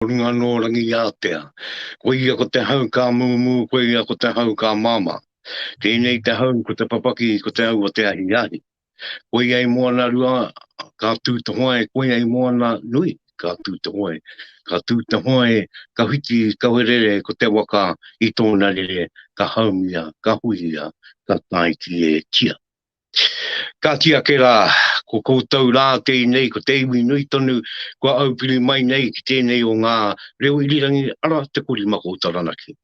Ko runga nō Rangiātea. Ko ia ko te hau ka mūmū, ko ia ko te hau ka māmā. Tēnei te hau ko te papaki, ko te hau o te ahiahi. Koi ai moana rua, ka tū te hoe, koi ai moana nui, ka tū te hoe. Ka tū te hoe, ka whiti, ka werere ko te waka i tōna rere, ka haumia, ka huia, ka tae ki e tia. Kāti ake rā, ko koutou rā kei nei ko te iwi nui tonu kua aupiri mai nei ki tēnei o ngā reo irirangi ara te korimako o Taranaki.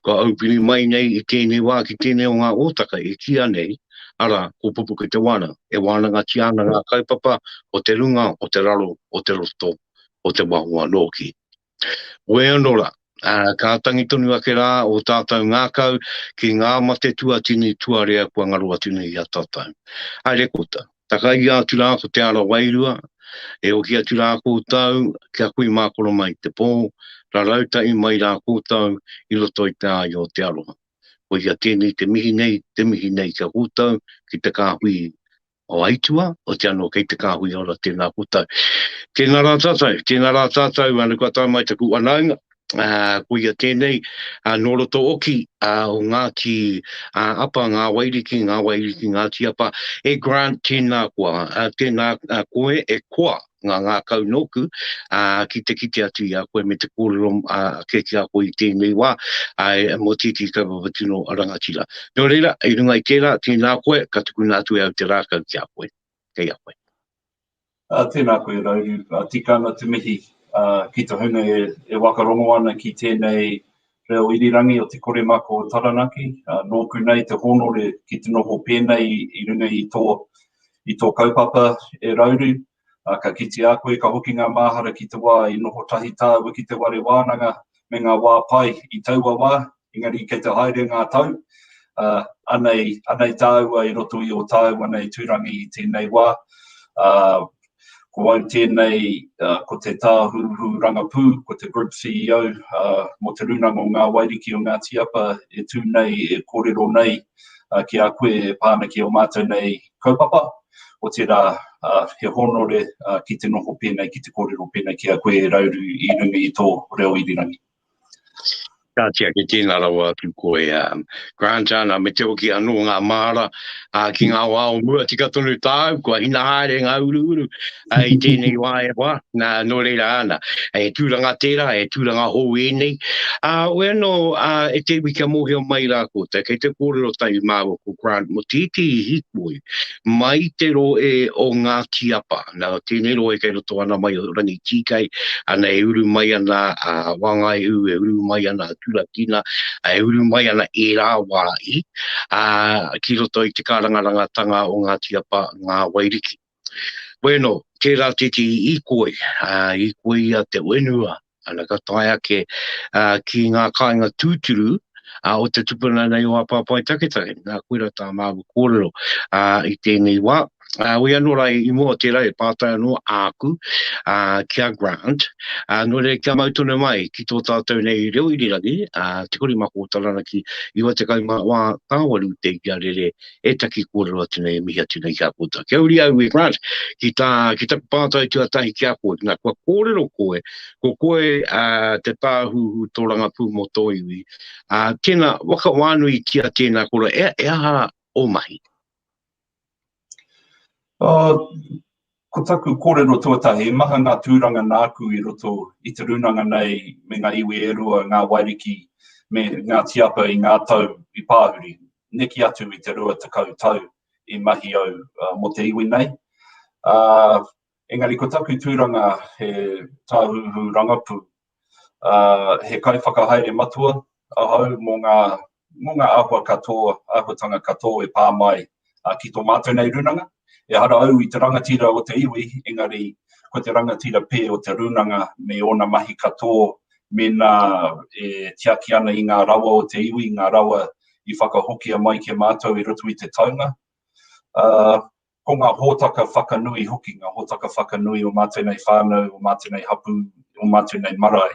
Kua aupiri mai nei i tēnei wā ki tēnei o ngā ōtaka e kīa nei, ara, ko Pupuke Te Wānanga, e wānangatia ana ngā kaupapa o te runga, o te raro, o te roto, o te waho anō ki. Wē anō rā, ka tangi tonu ake rā ō tātou ngākau ki ngā mate tuatini tuarea kua ngaro atu nei i a tātou. Haere kota, takaia atu rā ko te ara wairua, e ohi atu rā koutou kia kui mākoro mai te pō, rarau tahi mai rā koutou i roto i te āio o te aroha. Koia tēnei te mihi nei, te mihi nei ki a koutou, ki te kāhui o aitua, o te ano kei te kahui ora tena koutou. Tena ra tatou, tena ra tatou ano kua tae mai taku wanaunga, ko ia tenei no roto oki o Ngati Apa, nga Wairiki, nga Wairiki Ngati Apa, e Grant tena koa, tena koe e koa. ngā ngākau nōku, ā, ki te kite atu i a koe me te kōrero ake ki a koe i tēnei wā, āe, mō tētehi kaupapa tino rangatira. Nō reira, i runga i tērā, tēnā koe, ka tukuna atu e au te rākau ki a koe. Kei a koe. Ā, tēnā koe, Rauru, tika ana te mihi, ā, ki te hunga e wakarongo ana ki tēnei Reo Irirangi o Te Koremako o Taranaki, nōku nei te hōnore ki te noho pēnei i runga i tō, i tō kaupapa e Rauru, ka kite a koe ka hoki ngā māhara ki te wā i noho tahi tāua ki te ware wānanga me ngā wā pai i taua wā, engari kei te haere ngā tau, anei, anei tāua i roto i ō tāua nei tūrangi i tēnei wā, Ko au tēnei, ko te Tāhuhu Rangapū, ko te Group CEO mō Te Rūnanga o Ngā Wairiki o Ngāti Apa e tū nei e kōrero nei ki a koe e pā ana ki ō mātou nei kaupapa, otirā he honore ki te noho pēnei, ki te kōrero pēnei ki a koe e rauru i runga i tō reo irirangi. Ka tiaki tēnā rawa atu koe a Grant Ana me te hoki anō ngā māra ki ngā wā o mua tika tonu tāu kua hina haere ngā uruuru i tēnei wā e wā nā nō reira ana he tūranga tērā he tūranga hou ēnei a oe anō a e te iwi kia mōhio mai rā koutou kei te kōrero tahi māua ko Grant Motiiti i hikoi mai te roe o Ngāti Apa. Nā, tēnei roe kei roto ana mai o Rangitīkei, ana e uru mai ana a Wāngaihū, e uru mai ana a Turakina, e uru mai ana ērā wāhi, ā, ki roto i te kārangarangatanga o Ngāti Apa, Ngā Wairiki. Bueno, tērā tētehi īkoi, ā, īkoi ia te whenua, Ana ka tae ake uh, ki ngā kāinga tūturu uh, o te tupuna nei o Apapai Taketake. Nā, koe rā tā māu kōrero uh, i tēnei wā. Uh, wei anō rā i mua o tērā e pātai anō āku uh, ki a Grant. Uh, nō rei kia mau tonu mai ki tō tātou nei reo irirangi, uh, te kore mako o taranaki, iwa te kaumā wā tāwaru te ia rere e taki kōrero atu nei, e mihi atu nei ki a koutou. Kia uri au e Grant, ki, tā, ki taku pātai tuatahi ki a koe, nā, kua kōrero koe, ko koe uh, te tāhuhu tōrangapū mō tō iwi, uh, tēnā, waka wānui tia tēnā kora, e, e aha o mahi? Oh, Ko taku kōrero tuatahi, he maha ngā tūranga nāku i roto i te rūnanga nei me ngā iwi e rua, Ngā Wairiki me Ngāti Apa i ngā tau i pāhuri, neke atu i te rua tekau tau i mahi au mō te iwi nei. Ā, engari ko taku tūranga he tāhuhu rangapū, He kaiwhakahaere matua ahau mō ngā āhua katoa, āhuatanga katoa e pā mai ki tō mātou nei rūnanga. Ehara au i te rangatira o te iwi, engari ko te rangatira pē o te rūnanga me ōna mahi katoa mēnā e tiaki ana i ngā rawa o te iwi, ngā rawa i whakahokia mai ki a mātou i roto i te taunga. Ko ngā hōtaka whakanui hoki, ngā hōtaka whakanui o mātou nei whānau, o mātou nei hapū, o mātou nei marae,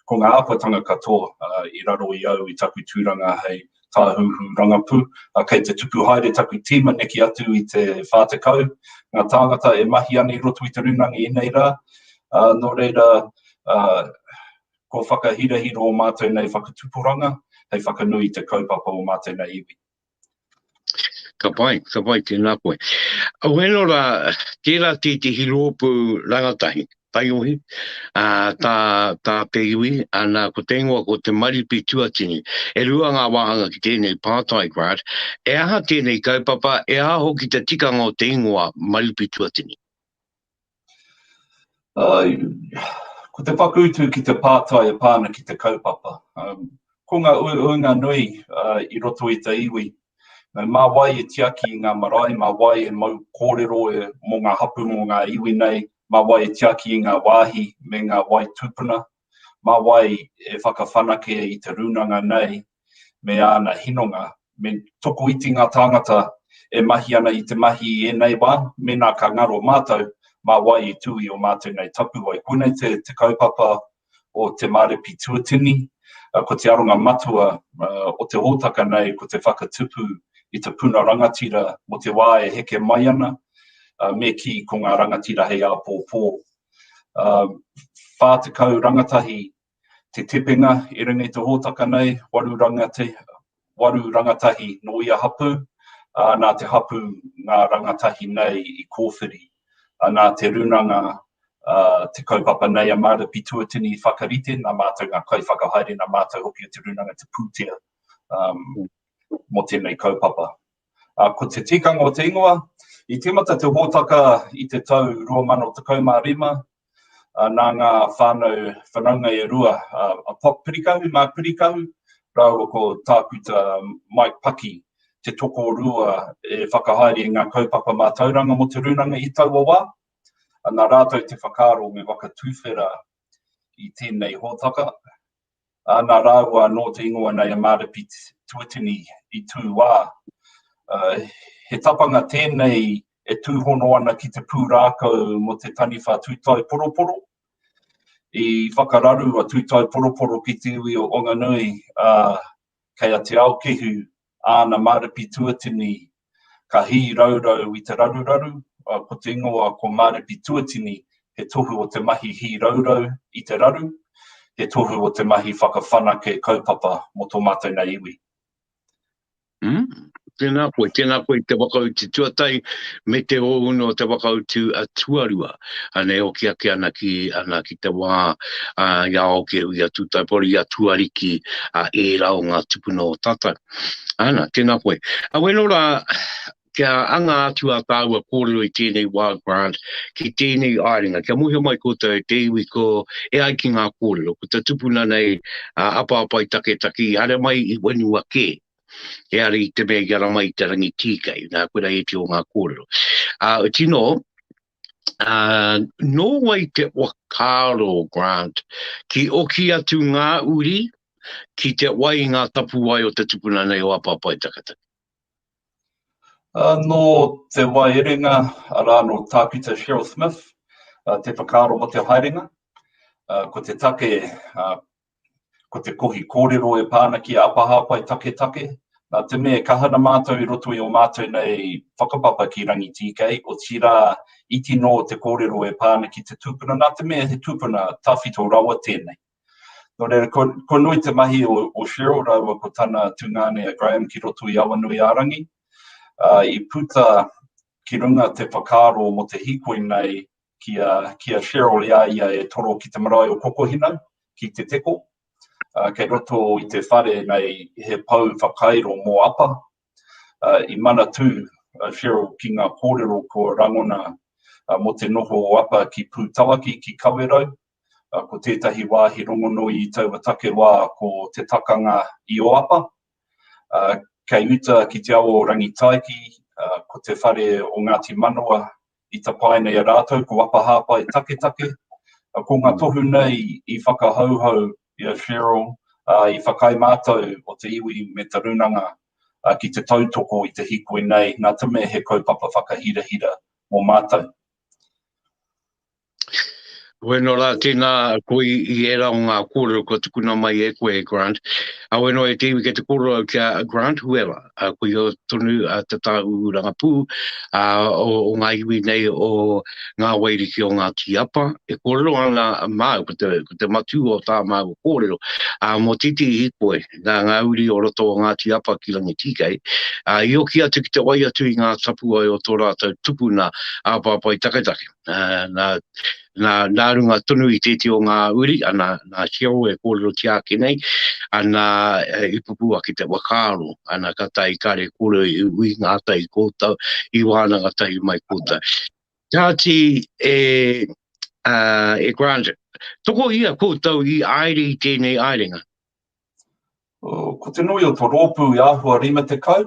ko ngā āhuatanga katoa i raro i au i taku tūranga hei tāhuhu rangapū. Kei te tupu haere taku tīma neke atu i te 40 ngā tāngata e mahi ana i roto i te rūnanga i nei rā, nō reira, kua whakahirahira ō mātou nei whakatupuranga hei whakanui i te kaupapa o mātou nei iwi. Ka pai, ka pai, tēnā koe. Au eno rā, tērā tētehi rōpū rangatahi, taiohi, ā, tā, tā te iwi, ānā, ko te ingoa ko te Maripi Tuatini. E rua ngā wāhanga ki tēnei pātai grant, e aha tēnei kaupapa, e aha hoki te tikanga o te ingoa Maripi Tuatini? Ko te whakautu ki te pātai e pā ana ki te kaupapa. Ko ngā uaua nui i roto i te iwi, mā wai e tiaki i ngā marae, mā wai e mau kōrero mō ngā hapū, mō ngā iwi nei, mā wai e tiaki i ngā wāhi me ngā wai tūpuna, mā wai e whakawhanake i te rūnanga nei, me āna hinonga, me tokoiti ngā tāngata e mahi ana i te mahi i ēnei wā, mēnā ka ngaro mātou, mā wai i tū i ō mātou nei tapuwae. Koinei te kaupapa o Te Mārepi Tuatini, ko te aronga matua o te hōtaka nei ko te whakatupu i te puna rangatira mō te wā e heke mai ana, me kī ko ngā rangatira hei āpōpō. 40 rangatahi Te Tepenga, e rere nei te hōtaka nei, waru rangatahi, waru rangatahi nō ia hapū, ā, nā te hapū ngā rangatahi nei i kōwhiri. Ā, nā te runanga ā te kaupapa nei a Marta Pituatini i whakarite, nā mātou ngā kaiwhakahaere, nā mātou hoki o te runanga te pūtea, ā, mō tēnei kaupapa. ā, ko te tikanga o te ingoa, i tīmata te hōtaka i te tau 2015, ā, nā ngā whānau whanaunga e rua, ā, a Pop Pirikahu, Mark Pirikahu, rāua ko Tākuta Mike Paki, te tokorua e whakahaere i ngā kaupapa mātauranga mō te rūnanga i taua wā, ā, nā rātou te whakaaro me whakatuwhera i tēnei hōtaka. ana rāua nō te ingoa nei a Mārepi Tuatini i tūwā. He tapanga tēnei e tūhono ana ki te pūrākau mō te taniwha Tūtaeporoporo. I whakararu a Tūtaeporoporo ki te iwi o Wanganui, ā, Kei a Te Aokihu āna Mārepi Tuatini ka hī raurau i te raruraru, ā, ko te ingoa ko Mārepi Tuatini, he tohu o te mahi hī raurau i te raru, he tohu o te mahi whakawhanake kaupapa mō tō mātou nei iwi. Tēnā koe, tēnā koe i te whakautu tuatahi me te ōunu o te whakautu a tuarua. Anei hoki ake ana ki, ana ki te wā a, i a Aokeru, i a Tūtaipori, i a Tuariki, a ērā o ngā tupuna o tātou. Ana, tēnā koe. A weno rā, kia anga atu a tāua kōrero i tēnei wā grant, ki tēnei āringa, kia muhe mai koutou e te iwi ko e ai ki ngā kōrero, ko te tupuna nei a Apaapai Taketaki, haere mai i whenua kē. E are i te mea i ara mai te rangi tīkei, nā koe rā eti o ngā kōrero. Ā, uh, tino, ā, nō wai te whakaaro, Grant, ki oki atu ngā uri, ki te wai ngā tapuwae o te tupuna nei o Apapai Takataki? Uh, nō te waerenga, arā nō Tākuta Cheryl Smith, uh, te whakaaro mo te haerenga, uh, ko te take uh, Ko te kohi kōrero e pā ana ki a Apahāpai Taketake, nā te mea e kaha ana mātou i roto i ō mātou nei whakapapa ki Rangitīkei, otirā, iti nō te kōrero e pā ana ki te tūpuna, nā te mea he tūpuna tawhito rawa tēnei. Nō reira, ko, ko nui te mahi o, o Cheryl rāua ko tana tungāne a Graham ki roto i Awanuiārangi, uh, i puta Ki runga te whakaaro mo te hikoi nei ki a ki a Cheryl i a ia e toro ki te marae o Kokohina ki Te Teko. Kei roto i te whare nei he pou whakairo mo Apa. I manatu a Cheryl ki nga korero kua rangona mo te noho o Apa ki Putawaki ki Kawerau Ko tētahi wāhi rongonui i taua take wā ko Te Takanga i Oapa. Kei uta ki te awa o Rangitaiki, ko te whare o Ngāti Manawa i tapaina i a rātou ko Apahāpai Taketake. Ko ngā tohu nei i whakahauhau i a Cheryl, i whakaae mātou o te iwi me te runanga ki te tautoko i te hikoi nei, nā te mea he kaupapa whakahirahira mō mātou. Weno rā, tēnā koe i ērā o ngā kōrero kua tukuna mai e koe, Grant. A weno e te iwi kei te kōrero au ki a Grant Huela, a koe o tonu a te tāu rangapū a, o, o ngā iwi nei o ngā wairiki o ngā tīapa. E kōrero ana māu, ko te, ko te matū o tā māu kōrero, a mō titi i koe, nā ngā uri o roto o ngā tīapa ki Rangitīkei, a i oki atu ki te wai atu i ngā tapuwae o tō rātou tupuna a Pāpai Taketake. uh, nā, nā, nā runga tonu i tēti o ngā uri, ana nā Sheo e kōrero tia ake nei, ana e, i pupu ake te wakaaro, ana ka tai kare kore i ui ngā tai kōtau, i wānanga tahi mai kōtau. Tāti e, uh, e Grant, toko ia kōtau i aere i tēnei aerenga? Uh, ko te nui o to rōpū i āhua rima te kau,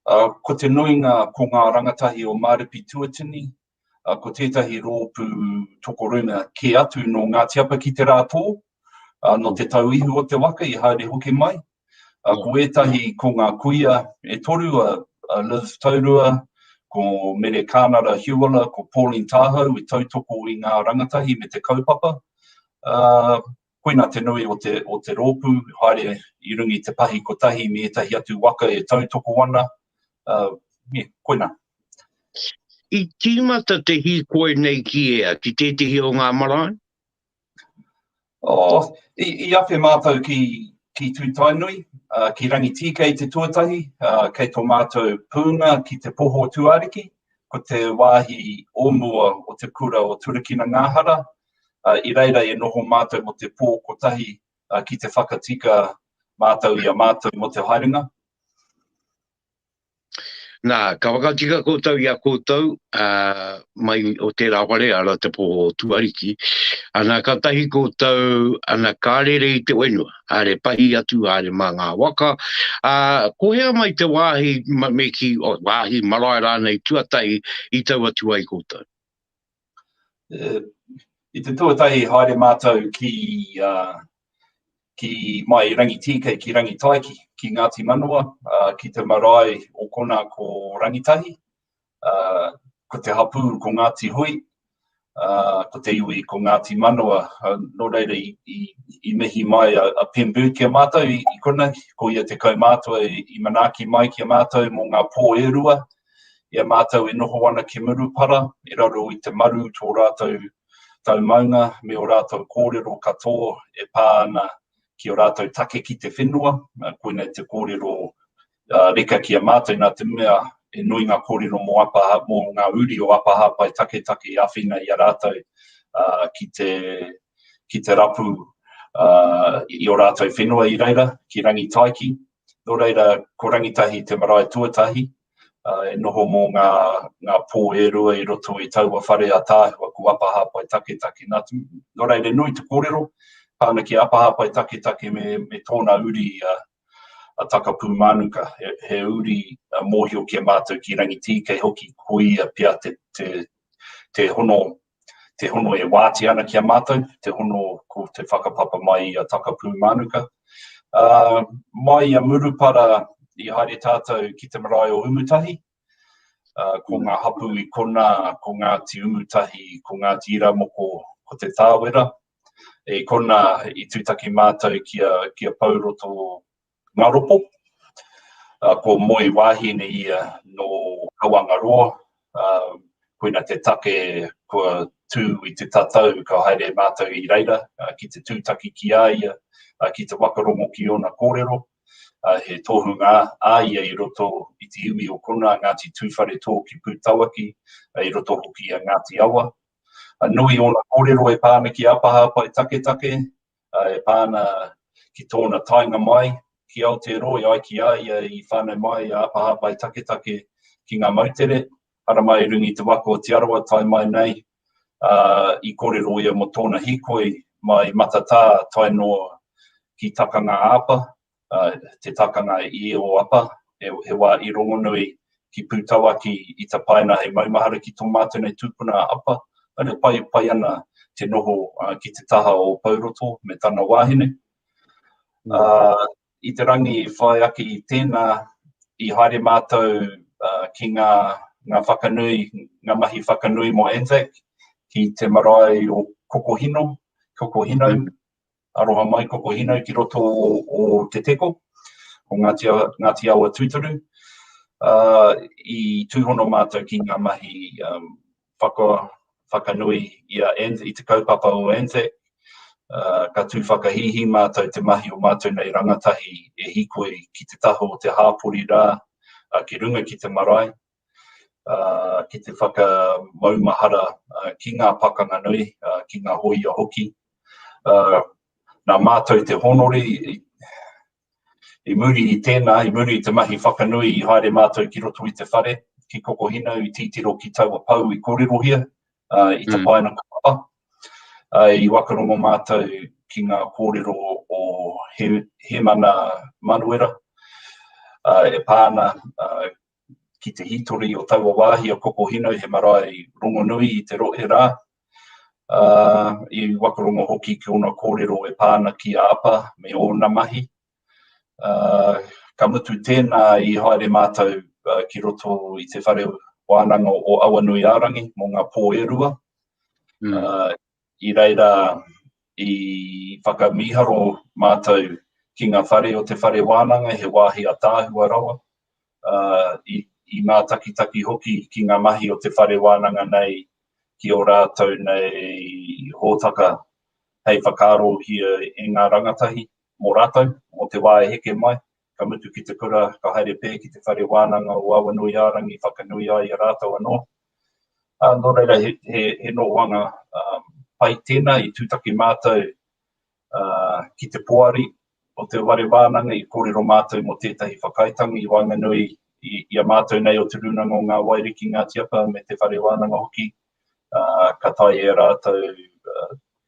uh, ko te nuinga ko ngā rangatahi o Mārepi Tuatini, ko tētahi rōpū tokorunga kē atu nō Ngāti Apa ki Te Rātō, nō Te Tau Ihu o te Waka i haere hoki mai. Ko ētahi, ko ngā kuia e toru a Liv Taurua, ko Mere Kānara Hiuala, ko Pauline Tāhau i tautoko i ngā rangatahi me te kaupapa. Koina te nui o te, o te rōpū, haere i runga i te pahi kotahi me ētahi atu waka e tautoko ana, ā, koina. I tīmata te hīkoi nei ki ea, ki tētehi o ngā marae? Oh, i, i awhe mātou ki, ki Tūtainui, ā, ki Rangitīkei te tuatahi, ā, kei tō mātou pūnga ki te Poho Tūāriki, ko te wāhi o mua o te kura o Turakina-Ngāhara, I reira e noho mātou mō te pō kotahi ki te whakatika mātou i a mātou mō te haerenga. Nā, ka whakatika koutou i a koutou mai o tērā whare, ara te pō o Tuariki, ana ka tahi koutou, ana ka rere i te whenua, are pahi atu, are mā ngā waka, ā, ko hea mai te wāhi me ki, wāhi marae rānei tuatahi i tau atu ai koutou. I te tuatahi i haere mātou ki mai i Rangitīkei ki Rangitaiki, ki Ngāti Manawa, ki te marae o konā ko Rangitahi, ko te hapū ko Ngāti Hui, ko te iwi ko Ngāti Manawa. Nō reira i mihi mai a Pembu ki a mātou i konei, ko ia te kaumātua i manaaki mai ki a mātou mō ngā pō e rua, I a mātou e noho ana ki Murupara, i raro i te maru tō rātou tau maunga me ō rātou kōrero katoa e pā ana ki ō rātou take ki te whenua, koinei te kōrero reka ki a mātou nā te mea he nui ngā kōrero mō Apahā, mō ngā uri o Apahā Pae Taketake i āwhina i a rātou ki te, ki te rapu i ō rātou whenua i reira ki Rangitaiki. Nō reira, ko Rangitahi te marae tuatahi e noho mō ngā, ngā pō e rua i roto i taua whare ataahua ko Apahāpai Taketake. Nā, nō reira, nui te kōrero, pā ana ki a Apahāpai Taketake me, me tōna uri a, a Takapūmānuka, he, he uri mōhio ki a mātou ki Rangitīkei hoki, ko ia pea te, te, te hono, te hono e wātea ana ki a mātou, te hono ko te whakapapa mai i a Takapūmānuka. Uh, mai i a Murupara i haere tātou ki te marae o Umutahi, uh, ko ngā hapu i kona, ko Ngāti Umutahi, ko Ngāti Iramoko, ko te Tāwera, e kona i tūtaki mātou ki a, ki a Pauroto Ngaropo. Ko Moe Wahine ia nō Kawangaroa. Koina te take kua tū i te tatau ka haere mātou i reira ki te tūtaki ki a ia, ki te whakarongo ki ōna kōrero. He tohunga a ia i roto i te iwi o konā, Ngāti Tūwharetō ki Pūtawaki, i roto hoki i a Ngāti Awa. Nui ōna kōrero e pā ana ki a Pahaapa i Taketake, e pā ana ki tōna taenga mai ki Aotearoa i ai ki a ia i whānau mai a Apa Hāpai Taketake ki ngā moutere, Haramai i runga i te waka o Te Arawa tae mai nei, ā, i kōrero ia mō tōna hīkoi mai Matatā tae noa ki Takanga-a-Apa. te takanga i ō apa, he wā i rongonui ki Pūtawa, ki Ita Paina hei maumahara ki tō mātou nei tūpuna a Apa, aria pai, pai ana te noho ki te taha o Pouroto me tana wāhine. I te rangi i whai ake i tēnā, i haere mātou ki ngā whakanui, ngā mahi whakanui mō Anzac ki te marae o Kokohino, Kokohino, Aroha mai ko Kohinau ki roto o Te Teko, o Ngāti Awa tūturu. I tūhono mātou ki ngā mahi whakanui i te kaupapa o Anzac, ka tū whakahīhī mātou te mahi o mātou nei rangatahi e hīkoi ki te taha o te hāpori rā, ki runga ki te marae, ki te whakamaumahara ki ngā pakanga nui, ki ngā hōia hoki. Nā mātou te hōnore, i muri i tēnā, i muri i te mahi whakanui i haere mātou ki roto i te whare, ki Kokohinau i titiro ki taua pou i kōrerohia i tapaina kapa. I wakarongo mātou ki ngā kōrero o Hemana Manuera e pā ana ki te hītori o taua wāhi o Kokohīnau he marae rongonui i te rohe rā, ā, i wakarongo hoki ki ōna kōrero e pā ana ki a Apa me ōna mahi. Ā, ka mutu tēnā i haere mātou ki roto i te whare wānanga o Awanuiārangi mō ngā pō e rua, ā, I reira i whakamīharo mātou ki ngā whare o te whare wānanga, he wāhi ataahua rawa, ā, i, i mātakitaki hoki ki ngā mahi o te whare wānanga nei ki ō rātou nei hōtaka hei whakaarohia e ngā rangatahi mō rātou, mō te wā e heke mai. ka mutu ki te kura, ka haere pē ki te whare wānanga o Awanuiārangi whakanui ai a rātou anō. Nō reira, he nohoanga pai tēnā i tūtaki mātou ki te poari o te whare wānanga i kōrero mātou mō tētahi whakaaetanga i waenganui i a mātou nei o Te Rūnanga o Ngā Waiari ki Ngāti Apa me te whare wānanga hoki, ka taea e rātou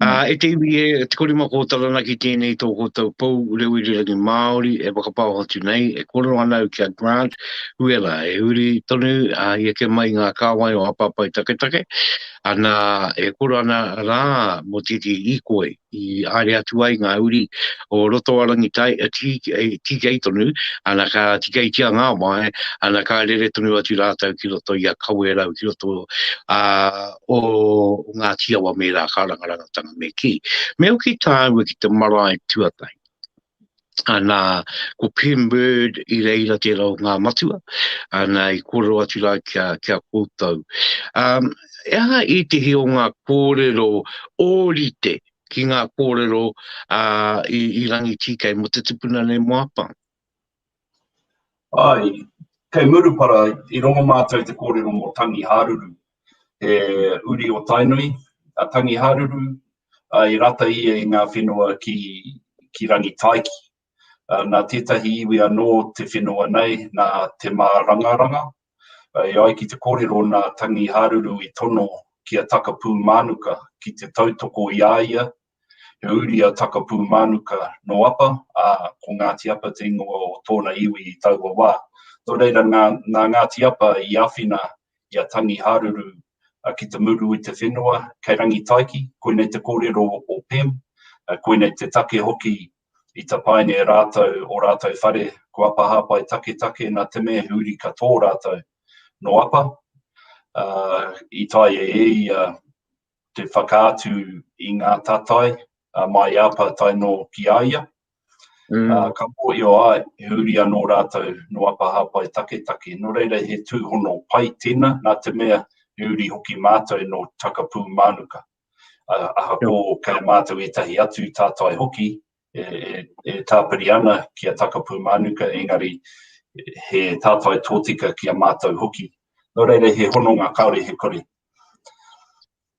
Ā, e te iwi e, e te korima kō Taranaki tēnei tō kōtou pou reo irirangi Māori e whakapao atu nei, e koro ana au ki a Grant Huela e huri tonu a i eke mai ngā kāwai o Apapai Taketake, ana e koro ana rā mō tētehi hīkoi i haere atu ai ngā uri o roto a Rangitai, e tīkei tonu, ana ka tīkeitia ngā wae, ana ka rere tonu atu rātou ki roto i a Kawerau, ki roto a o Ngāti Awa me Rākārangarangatanga me kī, me hoki tāua ki te marae tuatahi. Ana, ko Pim Bird i reira tērā o ngā matua, ana i koro atu rā kia, kia koutou. Um, e aha i te hi o ngā kōrero ōrite ki ngā kōrero uh, i, i rangi tīkei mo te tupuna nei mo apang? Āe, kei Murupara i rongo mātou i te kōrero mō Tangi Hāruru, he uri o Tainui a Tangi Hāruru, ā, i rata ia i ngā whenua ki, ki Rangitaiki. Ā, nā tētahi iwi anō te whenua nei, nā Te Mārangaranga, E ai ki te kōrero nā Tangi Haruru i tono ki a Takapūmānuka ki te tautoko i a ia, he uri a Takapūmānuka nō Apa, ā, ko Ngāti Apa te ingoa o tōna iwi i taua wā. Nō reira, nā, nā Ngāti Apa i āwhina i a Tangi Haruru ki te muru i te whenua kei Rangitaiki, koinei te kōrero o Pem, koinei te take hoki I tapaina e rātou ō rātou whare, ko Apa Hāpai Taketake nā te mea he uri ka tō rātou. Nō Apa, ā, i taea e ia te whakaatu i ngā tatai a Māi Apa tae nō ki a ia, ā, ka mōhio ai he uri anō rātou nō Apa Hāpai Taketake. Nō reira he tūhono pai tēnā nā te mea he uri hoki mātou nō Takapūmānuka. Ahakoa kei mātou ētahi atu tātai hoki e tāpiri ana ki a Takapū Mānuka, engari he tātai tōtika ki a mātou hoki. Nō reira, he hononga kāore he kore.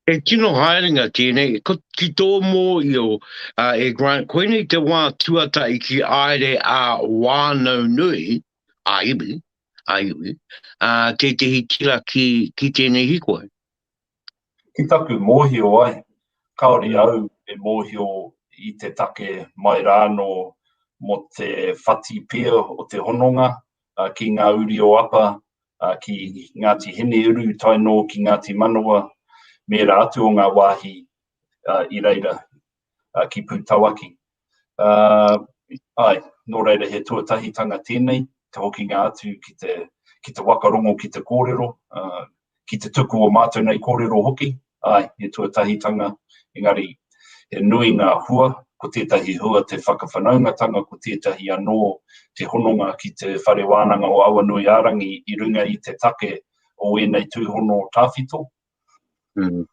He tino haerenga tēnei, ki tō mōhio e Grant, koinei te wā tuatahi ki aere a wānau nui, a iwi, a iwi, tētehi tira ki tēnei hikoi. Ki taku mōhio ai, kāore au e mōhio i te take mai rānō mō te whati pia o te hononga ki ngā uri o Apa, ki Ngāti Hineuru tae nō ki Ngāti Manawa, me ērā atu o ngā wāhi i reira uh, ki Pūtawaki. Uh, ai, nō reira he tuatahitanga tēnei, te hokinga atu ki te, ki te wakarongo, ki te kōrero, uh, ki te tuku o mātou nei kōrero hoki, ai, he tuatahitanga, engari, he nui ngā hua, ko tētahi hua te whakawhanaungatanga, ko tētahi anō te hononga ki te whare wānanga o Awanui Ārangi i runga i te take o ēnei tūhono tāwhito. Mm.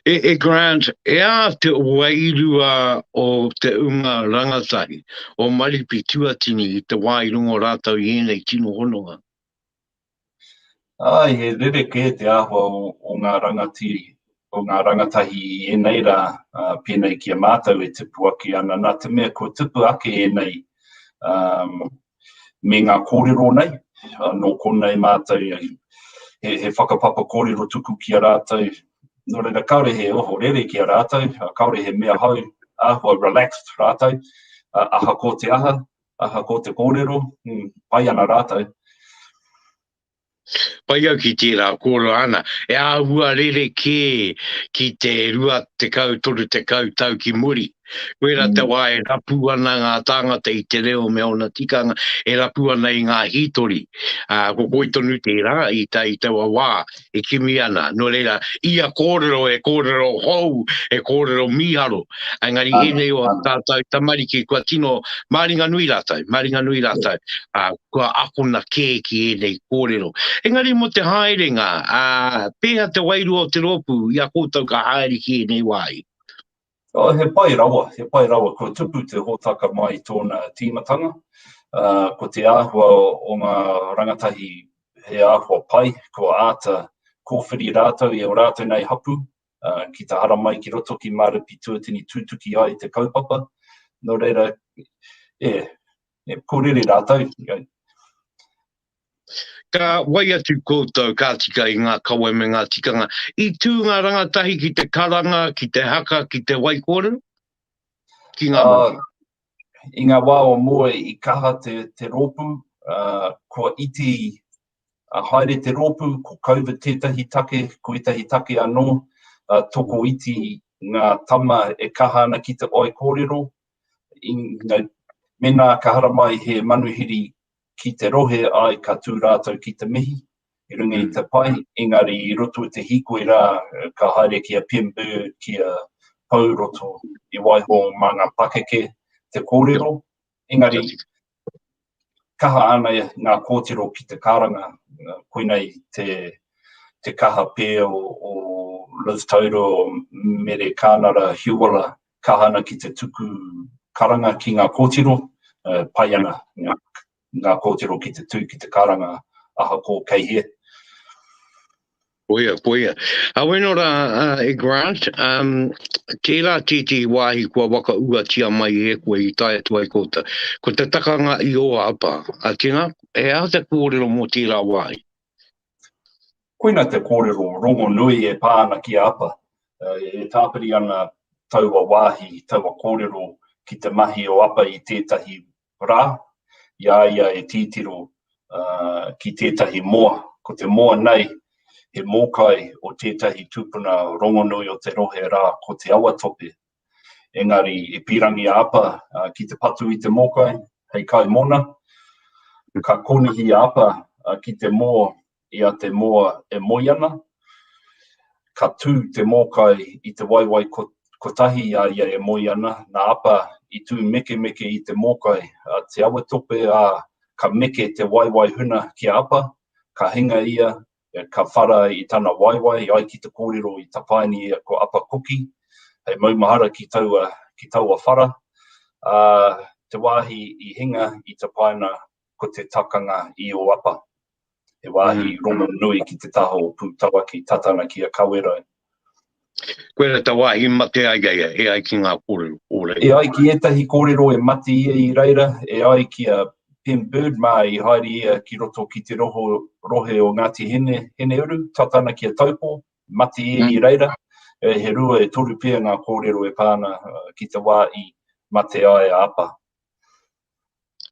E, e Grant, e a te wairua o te unga rangatahi, o Maripi Tuatini i te wā i rongo rātou i ēnei tino hononga. Ai, he rerekē te āhua o, o ngā rangatiri, o ngā rangatahi i ēnei rā, uh, pēnei ki a mātou e tipu ake ana, nā te mea kua tipu ake ēnei um, me ngā kōrero nei, nō konei mātou he, he whakapapa kōrero tuku ki a rātou, nō reira kāore he ohorere ki a rātou, kāore he mea hou, āhua relaxed rātou, aha ko te aha, aha ko te kōrero, mm, pai ana rātou. Pai au ki tērā kōrero āna, e āhua rerekē ki te 20, 30 tau ki muri. Koirā te mm. wā e rapu ana ngā tāngata i te reo me ōna tikanga, e rapu ana i ngā hītori. Uh, ko koi tonu tērā i, ta, i taua wā e kimi ana. Nō reira, ia kōrero e kōrero hou, e kōrero mīharo. Engari ah, ēnei o ah. tātou tamariki kua tino māringa nui rātou, māringa nui rātou. Uh, kua akona kē ki ēnei kōrero. Engari mō te haerenga, ā, pēhea te wairua o te rōpū i a koutou ka haere ki ēnei wāhi? Oh, he pai rawa, he pai rawa. Kua tupu te hōtaka mai i tōna tīmatanga. Uh, ko te āhua o ngā rangatahi he āhua pai, kua āta kōwhiri rātou i o rātou nei hapu, uh, ki te hara mai ki roto ki Mārepi Tuatini tūtuki ai te kaupapa. Nō reira, e, e purere rātou ki au. Ka wai atu koutou, ka tika i ngā kawe me ngā tikanga. I tū ngā rangatahi ki te karanga, ki te haka, ki te wai kōrero? Ki ngā uh, ah, I ngā wā o mua i kaha te, te rōpū, uh, kua iti a uh, haere te rōpū, ko COVID tētahi take, ko ētahi take anō, uh, toko iti ngā tama e kaha ana ki te oi kōrero, Mēnā ka haramai he manuhiri ki te rohe, āe, ka tū rātou ki te mihi i runga i te pai, engari i roto i te hīkoi rā, ka haere ki a Pim Bird kia pau roto i waiho mā ngā pakeke te kōrero, engari kaha ana ngā kōtiro ki te karanga, koina i te, te kaha pē o, o Liz Taurua, o Mere Kānara Hiuala, kaha ana ki te tuku karanga ki ngā kōtiro, uh, pai ana ngā, ngā kōtiro ki te tū ki te karanga, ahakoa kei hea. Koia, koia. Aweno rā, uh, e Grant, um, tērā tētī wāhi kua waka uatia mai e koe i tae atu ai kouta. Ko te takanga i o apa, a tina, e aha te kōrero mō tērā wāhi? Koina te kōrero rongo nui e pā ana ki a apa. Uh, e tāpiri ana taua wāhi, taua kōrero ki te mahi o apa i tētahi rā, i a ia e tītiro ki tētahi moa. Ko te moa nei, he mōkai o tētahi tūpuna rongonui o te rohe rā, ko Te Awatope. Engari, i pīrangi a Apa ki te patu i te mōkai, hei kaimōna, ka kōnihi a Apa ki te mō I a te moa e moe ana, ka tū te mōkai i te waewae kotahi i a ia e moe ana, nā Apa i tū mekemeke i te mōkai a Te Awatope, ā, ka meke te waewae huna ki a Apa, ka hinga ia, ka whara i tana waewae, i ai ki te kōrero i tapaini ia ko Apa Kuki, hei maumahara ki taua, ki taua whara, ā, te wāhi i hinga i tapaina ko te takanga i Oapa, he wāhi rongonui ki te taha o Pūtawa ki Tatana ki a Kawerau. Koia tā wāhi mate ai a ia, e ai ki ngā kōrero o reira. E ai ki ētahi kōrero e mate ia i reira, e ai ki a Pim Bird mā i haere ia ki roto ki te roho rohe o Ngāti Hine, Hineuru, Tatana ki a Taupō, mate ia i reira, he rua e toru pea ngā kōrero e pā ana ki te wā i mate ai a Apa.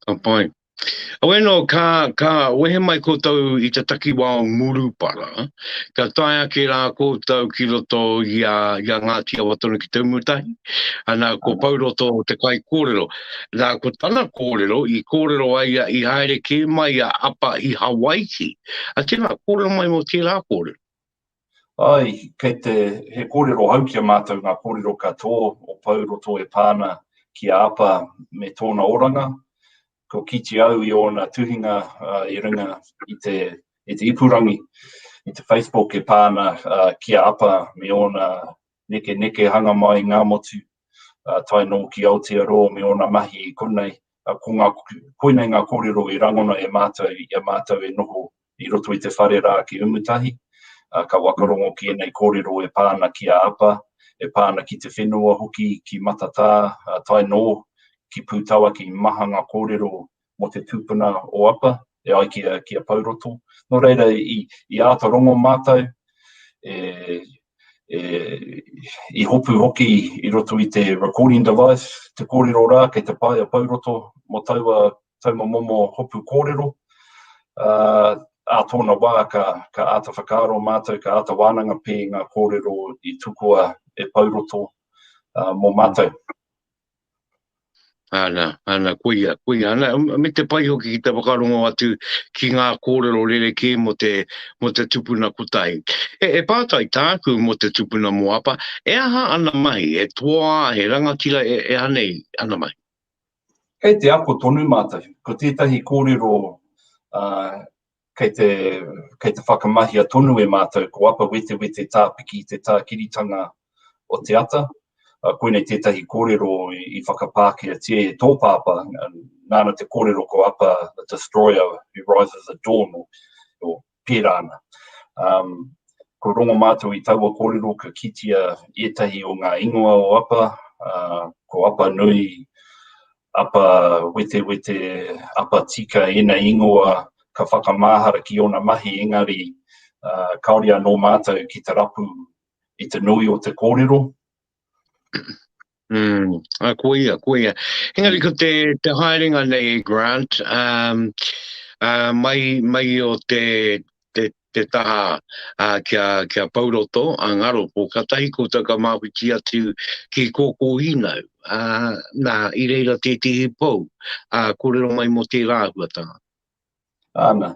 Ka pai. Awe no, ka, ka wehe mai koutou i te takiwa o Murupara, ka tae ake rā koutou ki roto i a, i a Ngāti Awa tonu ki Te Umutahi, ana ko Pauroto te kai kōrero. Nā, ko tana kōrero, i kōrero ai a, i haere kē mai a Apa i Hawaiki. A tēnā, kōrero mai mō tērā kōrero. Ae, kei te, he kōrero hau ki a mātou ngā kōrero ka tō o Pou Roto e pā ana ki a Apa me tōna oranga. Ko kīti au i ōna tuhinga i runga i te, i te ipurangi, i te Facebook e pā ana ki a Apa me ōna nekenekehanga mai i Ngāmotu, tae noa ki Aotearoa me ōna mahi i konei, Ko ngā, koina i ngā kōrero i rangona e mātou i a mātou e noho i roto i te whare rā ki Umutahi. Ka wakarongo ki ēnei kōrero e pā ana ki a Apa, e pā ana ki te whenua hoki, ki Matatā, tae noa ki Pūtawaki. Maha ngā kōrero mō te tūpuna o Apa. e ai ki a, ki a Pauroto. Nō reira, i, i āta rongo mātou, e, e, i hopu hoki i roto i te recording device, te kōrero rā kei te pae a Pauroto mō taua tauma momo hopu kōrero. Uh, a tōna wā ka, ka āta whakaaro mātou, ka āta wānanga pē ngā kōrero i tukua e Pauroto uh, mō mātou. Ana, ana, koia, koia, ana, me te pai hoki ki te whakarongo atu ki ngā kōrero rerekē mō te, mō te tupuna kotahi. E, e pātai tāku mō te tupuna mō apa, e aha ana mahi, he toā, he rangatira, e, e aha nei ana mahi? Kei te ako tonu mātou, ko tētahi kōrero uh, kei te, kei te whakamahia tonu e mātou ko Apa Wetewete Tāpiki te tākiritanga o te ata. Koinei tētahi kōrero i whakapākeatia e tō pāpā, nāna te kōrero ko Apa the Destroyer who rises at dawn, o, o pērā ana. Um, ko rongo mātou i taua kōrero ka kitia ētahi o ngā ingoa o Apa, uh, ko Apa Nui, Apa wetewete, apa tika ēnei ingoa ka whakamahara ki ōna mahi engari kāore anō mātou ki te rapu i te nui o te kōrero. Mm, a ko ia, ko ia. Engari ko te, te haerenga nei, Grant, um, uh, mai, mai o te, te, te taha kia pau roto, a ngaro ko katahi koutou ka mawhiti atu ki koko inau, na i reira tetihi pou a korero mai mo tera ahuatanga. Ana,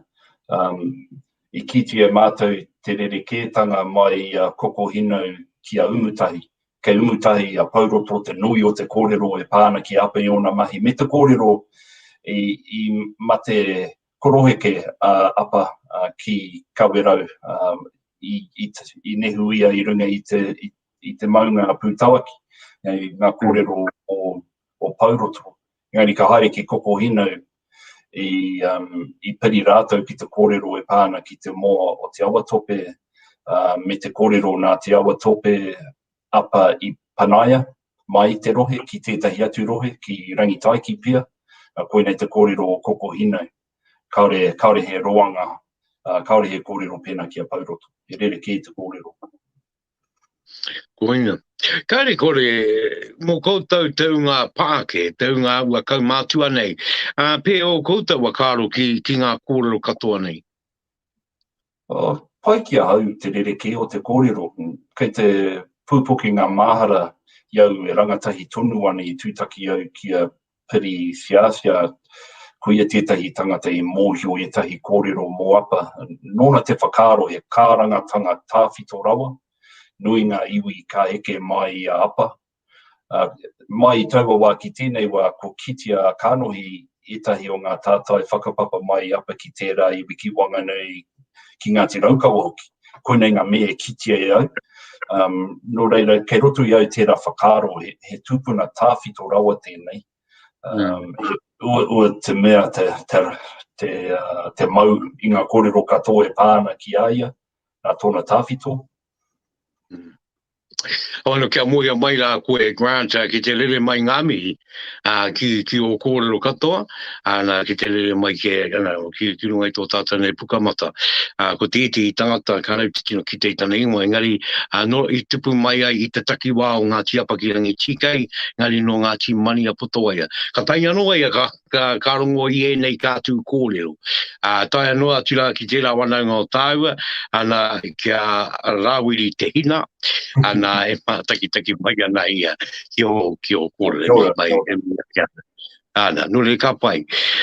i kiti e matou te rereketanga mai i a koko hinau ki a Umutahi, kei Umutahi i a pau roto te nui o te korero e pa ana ki Ape i ona mahi me te korero i mate Koroheke a Apa ki Kawerau i nehu ia i runga i te maunga a Pūtawaki, engari ngā kōrero o Pouroto. Engari ka haere ki Kokohinau i piri rātou ki te kōrero e pā ana ki te moa o Te Awatope me te kōrero nā Te Awatope, Apa i panaia, mai i te rohe ki tētahi atu rohe, ki Rangitaiki pea, koinei te kōrero o Koko Hinau. Kāore, kāore he roanga, kāore he kōrero pēnā ki a Pauroto, he rerekē te kōrero. Koina. Kāre kore, mō koutou te unga pāke, te unga aua kaumātua nei, pē o koutou a kāro ki, ki ngā kōrero katoa nei? Pai ki ahau te rerekē o te kōrero, kei te pūpoke ngā māhara i au e rangatahi tonu ana i tūtaki au ki a Piri Whiawhia, koia tētahi tangata i mōhio ētahi kōrero mō Apa, nōna te whakaaro he kārangatanga tāwhito rawa, nui ngā iwi ka eke māi i a Apa, Mai i taua wā ki tēnei wā ko kitea a Kanohi ētahi o ngā tātai whakapapa mai i apa ki tērā iwi ki Wanganui, ki Ngāti Raukawa hoki. Koinei ngā mea e kitea e au. Nō reira, kei roto i au tērā whakaaro, he tūpuna tāwhito rawa tēnei. Ua te mea te mau i ngā kōrero katoa e pā ana ki a ia, nā tōna tāwhito. Hau anō kia moea mai rā koe Grant ki te rere mai ngā mihi ki, ki o kōrero katoa, ana, ki te rere mai ke, ana, ki, ki runga i tō tātou nei pukamata. Uh, ko te iti i tangata ka rau te tino ki te tana ingoa, engari uh, no, i tupu mai ai i te takiwā o Ngāti Apakirangi TK, engari no Ngāti Mania Potowaia. Ka tainga anō ai a ka, ka, ka rongo i ēnei kātū kōrero. Ā, taia noa atu rā ki tērā wanaunga o tāua, ana kia rāwiri te hina, ana e mātakitaki mai ana ia ki o, ki o kōrero. Kia ora, mai, kia ora. Kia ora. Ana, nō rei ka pai.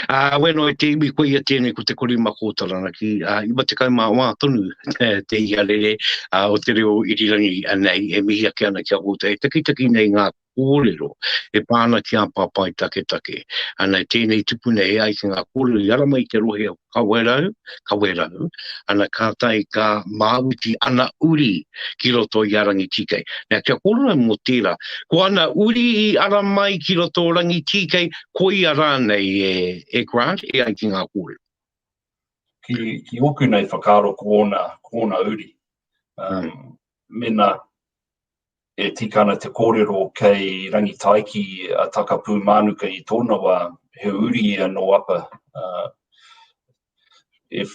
Ā, wēno e te iwi koia tēnei ko te korima kōtarana ki ā, 90 mā wā tonu te, te iarere ā, o te reo irirangi anei e mihi ake ana ki a koutou e takitaki nei ngā kōrero e pā ana ki ngā papai taketake. Ana i tēnei tupuna e ai ki ngā kōrero i ara mai i te rohe o Kawerau, Kawerau, ana kātahi ka māwiti ana uri ki roto i a Rangitīkei. Nā, kia kōrero ai mō tērā, ko ana uri i ara mai ki roto o Rangitīkei, koia rānei e, e Grant e ai ki ngā kōrero? Ki, ki ōku nei whakaaro ko ōna, ko ōna uri. Um, mēnā, E tika ana te kōrero kei Rangitaiki a Takapūmānuka i tōna wā, he uri ia nō Apa. E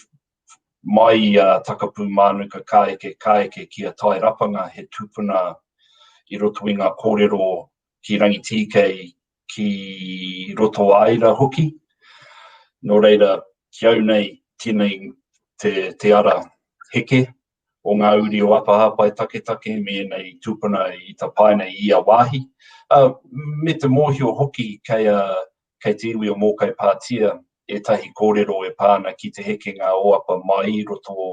mai i a Takapūmānuka ka eke, ka eke ki a Tairapanga, he tupuna i roto i ngā kōrero ki Rangitīkei, ki Rotoāira hoki. Nō reira, ki au nei, tēnei te ara heke, o ngā uri o Apahāpai Taketake me ēnei tūpuna i tapaina i ia wāhi, ā, me te mōhio hoki kei a, kei te iwi o Mōkai Pātia ētahi kōrero e pā ana ki te hekenga o Apa mai roto o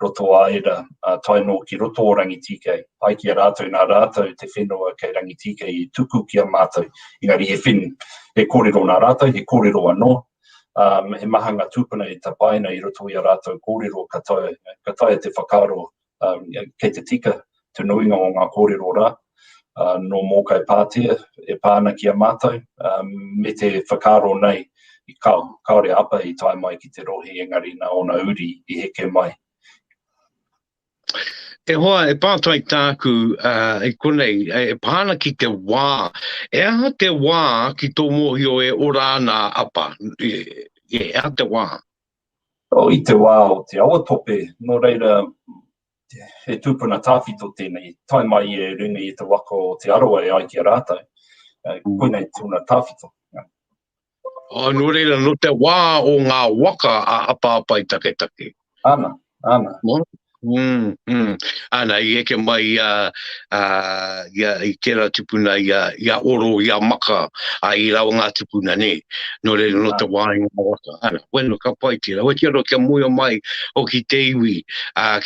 roto a Ira, ā, tae nō ki roto o Rangitīkei, ai ki a rātou nā rātou te whenua kei Rangitīkei i tuku ki a mātou, engari he whenu, he kōrero nā rātou, he kōrero anō, he maha ngā tūpuna i tapaina i roto i a rātou kōrero ka taea, ka taea te whakaaro kei te tika te nuinga o ngā kōrero rā nō Mōkai Pātea e pā ana ki a mātou, me te whakaaro nei i kao, kāore a Apa i tae mai ki te rohe engari nā ōna uri i heke mai. E hoa, e pātai tāku i konei, e pā ana ki te wā, e aha te wā ki tō mōhio e ora ana a Apa? E aha te wā? Oh, i te wā o te awa tope, nō reira, he tūpuna tāwhito tēnei, tae mai i Ringa i te waka o Te Arawa e ai ki a rātou. Koinei tōna tāwhito. Nō reira, nō te wā o ngā waka a Hapāpai Taketake. Ana, ana. Ana, i eke mai i a, i tērā tupuna, i a Oro, i a Maka, i rāua ngā tupuna, nē. Nō reira, nō te wā i ngā waka. Ana, wena, ka pai tērā. Wai tērā kia moea mai hoki te iwi,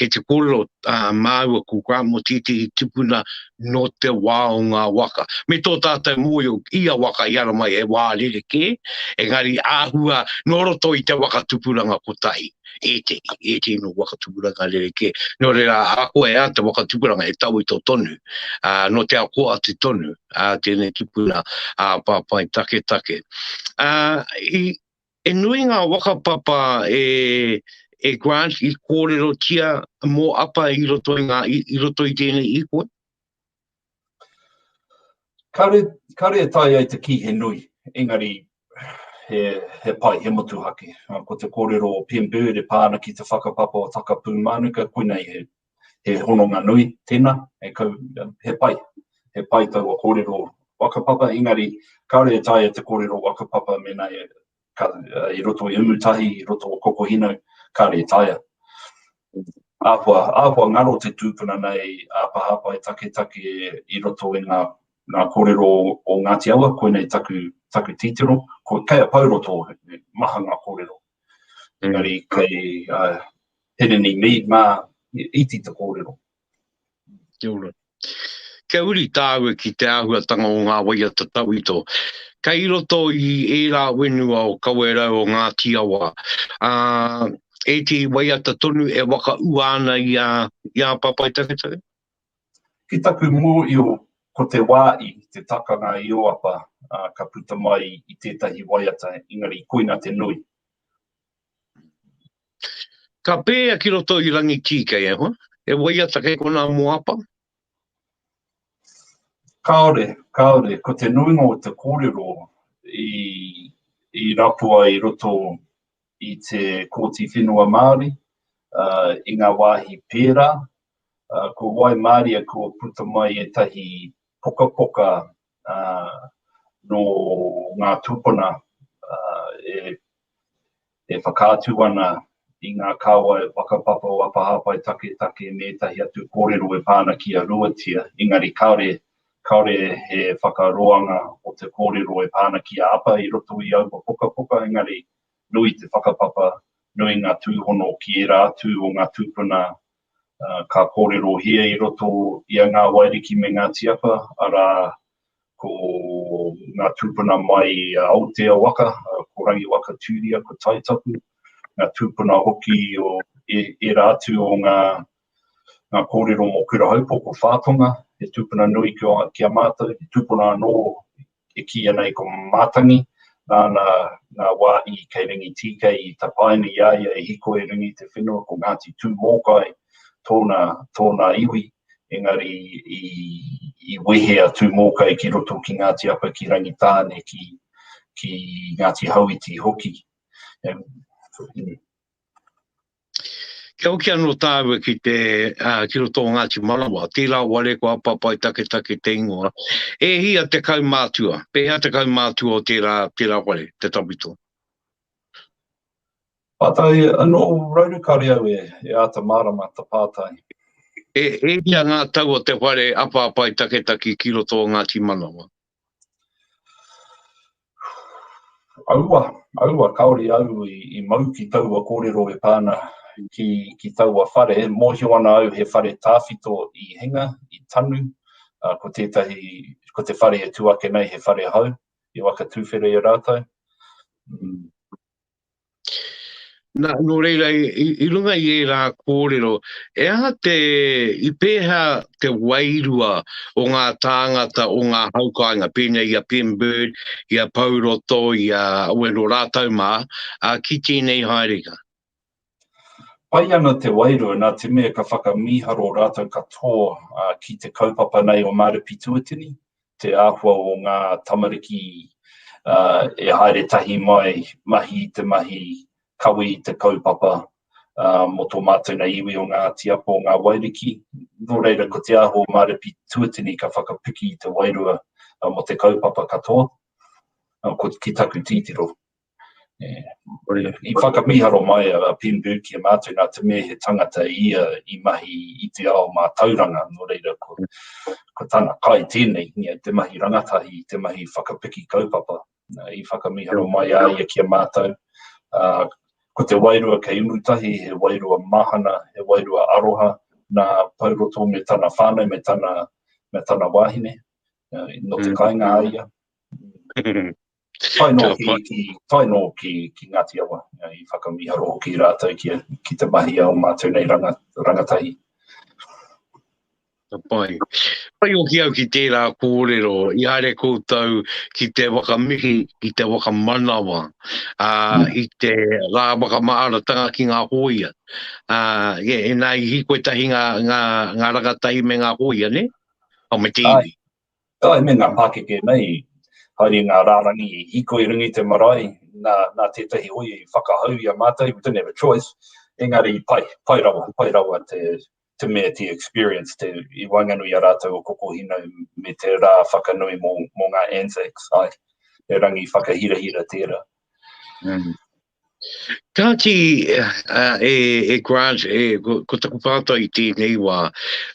kei te kōrero māua ko Grant mō tētehi tupuna nō te wā o ngā waka. Me tō tātou mōio i a waka i ara mai he wā rerekē, engari āhua nō roto i te waka tupuranga kotahi, ētehi, ētehi nō waka tupuranga rerekē. Nō reira, ako e ā te waka tupuranga he tauito tonu, ā, nō te ako atu tonu, ā, tēnei tupuna, ā, papai taketake. Ā, i, He nui ngā whakapapa e Grant i kōrerotia mō Apa i roto i ngā, i roto i tēnei īhua? Kāre, kāre e tae ai te kī he nui, engari he, he pai, he motuhake. Ko te kōrero o Pim Bird e pā ana ki te whakapapa o Takapū Mānuka, koinei he He hononga nui tena, he kau, he pai, he pai taua korero whakapapa, engari kaore e taea te korero whakapapa mena e, ka, i roto i Umutahi, i roto o Kokohino, kare e taea. Ahua, ahua ngaro te tupuna nei a Pahapai Taketake i roto i nga, nga korero o Ngati Awa, koinei taku, taku titiro, ko, kei a Pauroto, maha nga korero. Engari kei a Hirini Mead mā he iti te kōrero. Kia ora. Kia uri tāua ki te āhuatanga o ngā waiata tauito. Kei roto i ērā whenua o Kawerau o Ngāti Awa, ā, ētehi waiata tonu e whakaūa ana i a, i a Papai Taketake. Ki taku mōhio ko te wā i te takanga i Oapa ka puta mai i tētahi waiata engari koina te nui. Ka pēea ki roto i Rangitīi kei ahua, he waiata kei konā mō Oapa? Kāore, kāore. Ko te nuinga o te kōrero i rapua i roto i te Kōti Whenua Māori i ngā wāhi pērā. Ko Waimaria kua puta mai ētahi pokapoka nō ngā tūpuna e whakaatu ana i ngā kāwai whakapapa o Apa Hāpai Taketake me ētahi atu kōrero e pā ana ki a Ruatia, engari kāore, kāore he whakaroanga o te kōrero e pā ana ki a Apa i roto i aua pokapoka, engari Nui te whakapapa, nui ngā tūhono ki ērā atu o ngā tūpuna ka kōrerohia i roto i a Ngā Wairiki me Ngā Tiapa, arā, ko ngā tūpuna mai a Aotea waka, ko Rangiwaka Tūria, ko Taitapu, ngā tūpuna hoki o ērā atu o ngā kōrero mō Kurahaupoko, Whātonga, he tūpuna nui ki a mātou, he tūpuna anō e kī ana i ko Matangi, nāna ngā wāhi kei Rangitīkei i tapaina i a ia e hīkoi ringa i te whenua, ko Ngāti Tūmōkai tōna, tōna iwi, engari i, i wehe a Tūmōkai ki roto ki Ngāti Apa, ki Rangitāne, ki, ki Ngāti Hauiti hoki. Kia hoki anō tāua ki te uh, ki roto o Ngāti Manawa, tērā ware ko apapai taketake te ingoa. E hia te kaumātua, pēhea te kaumātua o tērā, tērā ware, te tawhito? Pātai anō rauru kāre au e, e āta mārama ta pātai. E, e hia ngā tau o te whare apapai taketaki ki roto o Ngāti Manawa? Aua, aua, kāore au i mau ki taua kōrero e pā ana ki, ki taua whare. Mōhio ana au he whare tāwhito i hinga, i tanu, ā, ko tētahi, ko te whare e tū ake nei he whare hau, i whakatūwhera i a rātou. Nā, nō reira, i, i runga i ērā kōrero, e aha te, i pēhea te wairua o ngā tāngata o ngā haukāinga, pēnei i a Pim Bird, i a Pou Roto, i a Owen o rātau mā, a, ki tēnei haerenga? Pai ana te wairua nā te mea ka whakamīharo rātou katoa ki te kaupapa nei o Maare Pituatini, te āhua o ngā tamariki e haere tahi mai, mahi i te mahi, kawe i te kaupapa mō tō mātou nei iwi o Ngāti Apo, o Ngā Wairiki. Nō reira, ko te āhua o Maare Pituatini ka whakapiki i te wairua mō te kaupapa katoa, ko, ki taku titiro. I whakamīharo mai a Pemberg ki a mātou nā te mea he tangata ia i mahi i te ao mātauranga, nō reira ko tana kai tēnei, te mahi rangatahi, te mahi whakapiki kaupapa. I whakamīharo mai a ia ki a mātou, ko te wairua kei uru tahi, he wairua mahana, he wairua aroha nā Pouroto me tana whānau, me tana wāhine, nō te kāinga a ia. Tae nō ki, ki, tae nō ki, ki Ngāti Awa, i whakamiharo hoki rātou ki, ki te mahi a o mātou nei ranga, rangatahi. Ka pai. Pai o ki au ki tērā kōrero, i haere koutou ki te wakamihi, ki te wakamanawa, a, mm. i te rā wakamaaratanga ki ngā hōia. A, e, e nā i hikoe tahi ngā, ngā, ngā rangatahi me ngā hōia, ne? Au me te iwi. Ā, me ngā pākeke nei, haere i ngā rārangi i hiko i runga i te marae, nā, nā tētahi hōia i whakahau i a mātou, we didn't have a choice, engari pai, pai rawa, pai rawa te, te mea, te experience, te, i waenganui i a rātou o Kokohinau me te rā whakanui mō, mō ngā Anzacs, āe, he rangi whakahirahira tērā. Mm. Kāti, uh, e, e Grant, e, ko, ko taku pātai i tēnei wā,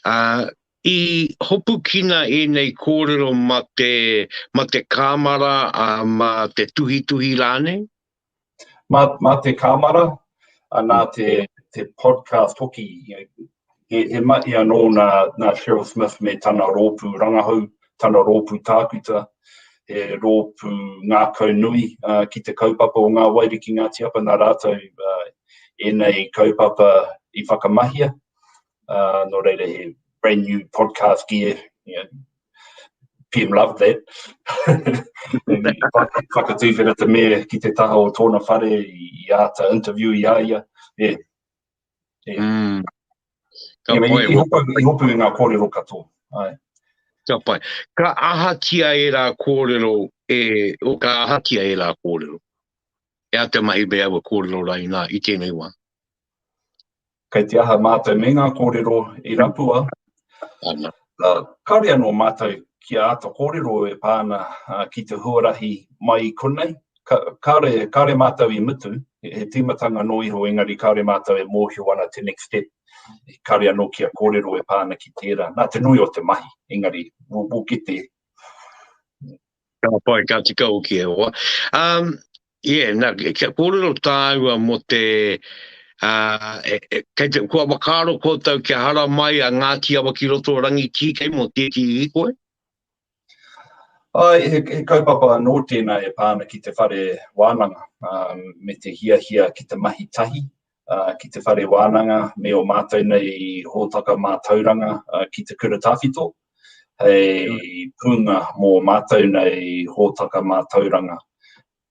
uh, I hopukina ēnei kōrero ma te, ma te kāmara, ā, ma te tuhituhi rānei? Ma, ma te kāmara, ā, nā te, te podcast hoki, he, he mahi anō nā, nā Cheryl Smith me tana rōpū rangahau, tana rōpū tākuta, he rōpū ngākau nui, ā, ki te kaupapa o Ngā Wairua ki Ngāti Apa, nā rātou, ā, ēnei kaupapa i whakamahia, Uh, nō reira he brand new podcast gear. Yeah. PM loved that. Whakatūwhera te mea ki te taha o tōna whare i āta interview i a ia. Yeah. Yeah. Mm. Ka yeah, pai. I hopu, i hopu i ngā kōrero katoa. Ai. Ka pai. Ka ahatia e rā kōrero, e, o ka ahatia e rā kōrero. E a te mahi mea wa kōrero rā i nā, i tēnei wā. Kei te aha mātou me ngā kōrero i rapua, kāore anō mātou kia āta kōrero e pā ana ki te huarahi mai i konei, kāore, kāore mātou i mutu, he tīmatanga noa iho engari kāore mātou e mōhio ana te next step, kāore anō kia kōrero e pā ana ki tērā, nā te nui o te mahi, engari we'll get there. Ka pai, ka tika hoki e hoa. Um, yeah, na, kia kōrero tāua mō te, uh, e, e, kei te, kua wakaaro koutou kia hara mai a Ngāti Awa ki roto rangi tī kei mō tēti i koe? Ai, he, he kaupapa anō tēnā e pāna ki te whare wānanga, um, me te hiahia ki te mahi tahi, ki te whare wānanga me ō mātou nei hōtaka mātauranga ki te kura tawhito, hei pūnga mō ō mātou nei hōtaka mātauranga.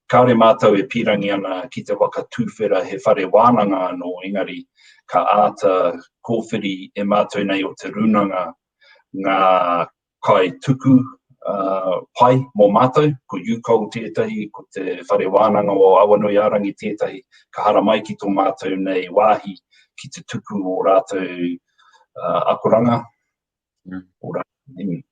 Kāore mātou e pīrangi ana ki te waka tūwhera he whare wānanga anō, engari ka āta kōwhiri e mātou nei o te rūnanga ngā kai tuku uh, pai mō mātou, ko UCOL tētahi, ko te Whare Wānanga o Awanuiārangi tētahi, ka hara mai ki tō mātou nei wāhi ki te tuku o rātou uh, akoranga, mm. o rātou nimi.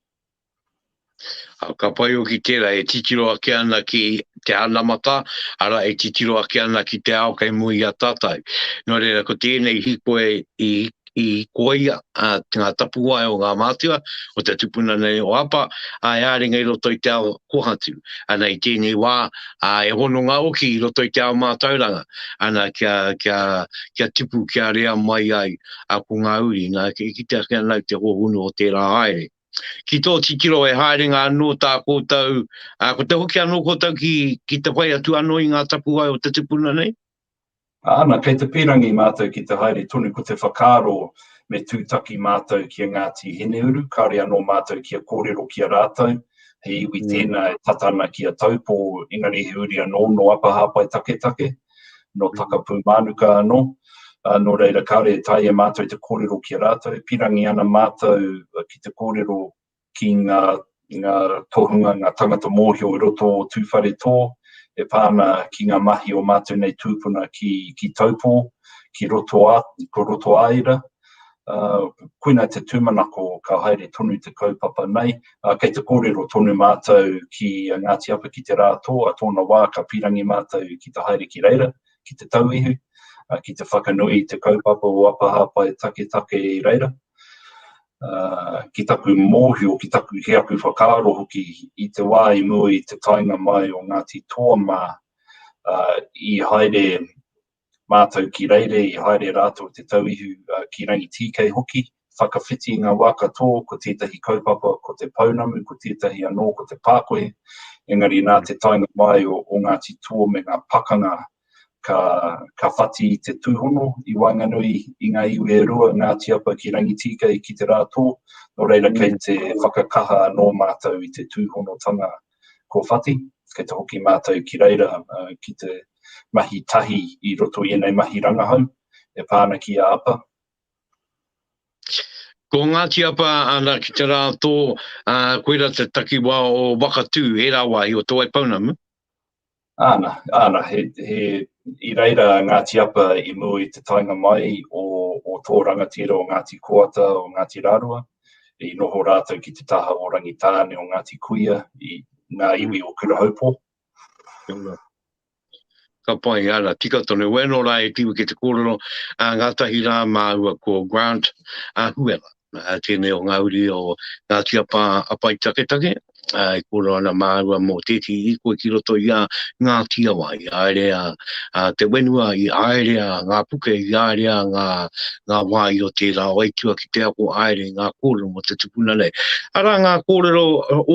A, ka pai o ki tērā, e titiro ake ana ki te anamata, ara e titiro ake ana ki te ao kei mui a tātou. Nō reira, ko tēnei hiko e, i, i koia a ngā tapuwae o ngā mātua, o te tupuna nei o Apa, a e āringa i roto i te ao kohatu. Ana i tēnei wā, a e hononga hoki i roto i te ao mātauranga, ana kia, kia, kia tipu, kia rea mai ai a ko ngā uri, nā, e kitea ake ana i te hōhonu o tērā haere. Ki tō titiro he haerenga anō tā koutou, ā, ko te hoki anō koutou ki, ki te whai atu anō i ngā tapuwae o te tupuna nei? Ana, kei te pīrangi mātou ki te haere tonu ko te whakaaro me tūtaki mātou ki a Ngāti Hineuru, kāore anō mātou kia kōrero ki a rātou, he iwi tēnā e tata ana ki a Taupō, engari he uri anō nō Apahāpai Taketake, nō Takapūmānuka anō, ā, nō reira kāore e taea mātou te kōrero ki a rātou, pīrangi ana mātou ki te kōrero ki ngā ngā tohunga, ngā tangata mōhio i roto o Tūwharetō e pā ana ki ngā mahi o mātou nei tūpuna ki, ki Taupō, ki roto a, ko roto āira. Uh, koina te tūmanako ka haere tonu te kaupapa nei, uh, kei te kōrero tonu mātou ki a Ngāti Apa ki te rā tō, a tōna wā ka pirangi mātou ki te haere ki reira, ki te tauihu, uh, ki te whakanui te kaupapa o Apahāpai Taketake i reira. ki taku mōhio, ki taku, ki aku whakaaro hoki, i te wā i mua i te taenga mai o Ngāti Toa mā, i haere mātou ki Reire, i haere rātou te tauihu ki Rangitīkei hoki, whakawhiti i ngā wā katoa, ko tētahi kaupapa ko te pounamu, ko tētahi anō ko te pākohe, engari nā te taenga mai o Ngāti Toa me ngā pakanga ka, ka whati i te tūhono i waenganui i ngā iwi e rua, Ngāti Apa ki Rangitīkei ki te rā tō, nō reira kei te whakakaha anō mātou i te tūhonotanga kua whati, kei te hoki mātou ki reira uh, ki te mahi tahi i roto i enei mahi rangahau e pāna ki a Apa. Ko Ngāti Apa ana ki te rā tō, uh, koira te takiwa o Wakatū, e rā wāhi o Te Waipounamu. Ana, ana, he, he, i reira a Ngāti Apa i mua i te taenga mai o, o tō rangatira o Ngāti Koata, o Ngāti Rārua, i noho rātou ki te taha o Rangitāne o Ngāti Kuia, i ngā iwi o Kurahaupō. Tēnā. Ka pai, ana, tika tonu. Wēnō rā e tiwi ki te kōrero, a, ngātahi rā māua ko Grant a Huela. uh, tēnei o ngā uri o ngā tiapa apai taketake, uh, e kōrero ana māua mō tēti i koe ki roto i a ngā tiawa, i aerea uh, te wenua, i aerea ngā puke, i aerea ngā, ngā wāi o tērā o aitua ki te ako aere ngā kōrero mō te tupuna nei. Ara ngā kōrero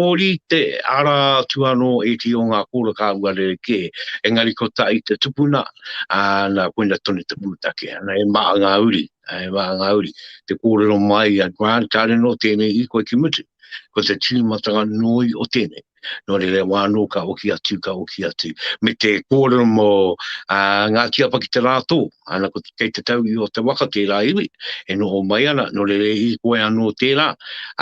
ōri te ara atu anō e ti o ngā kōrero kā ua rere kē, engari ko ta i te tupuna, uh, nā koina tonu te pūtake, ana e maa ngā uri. e wā ngā uri. Te kōrero mai a Grant, kāre nō tēnei i koe ki mutu. Ko te tīmatanga noi o tēnei. Nō re re wā nō ka oki atu, ka oki atu. Me te kōrero mō uh, ngā tiapa ki te rātō. Ana ko te, kei te tau i o te waka tērā iwi. E noho mai ana, nō re re i koe anō tērā.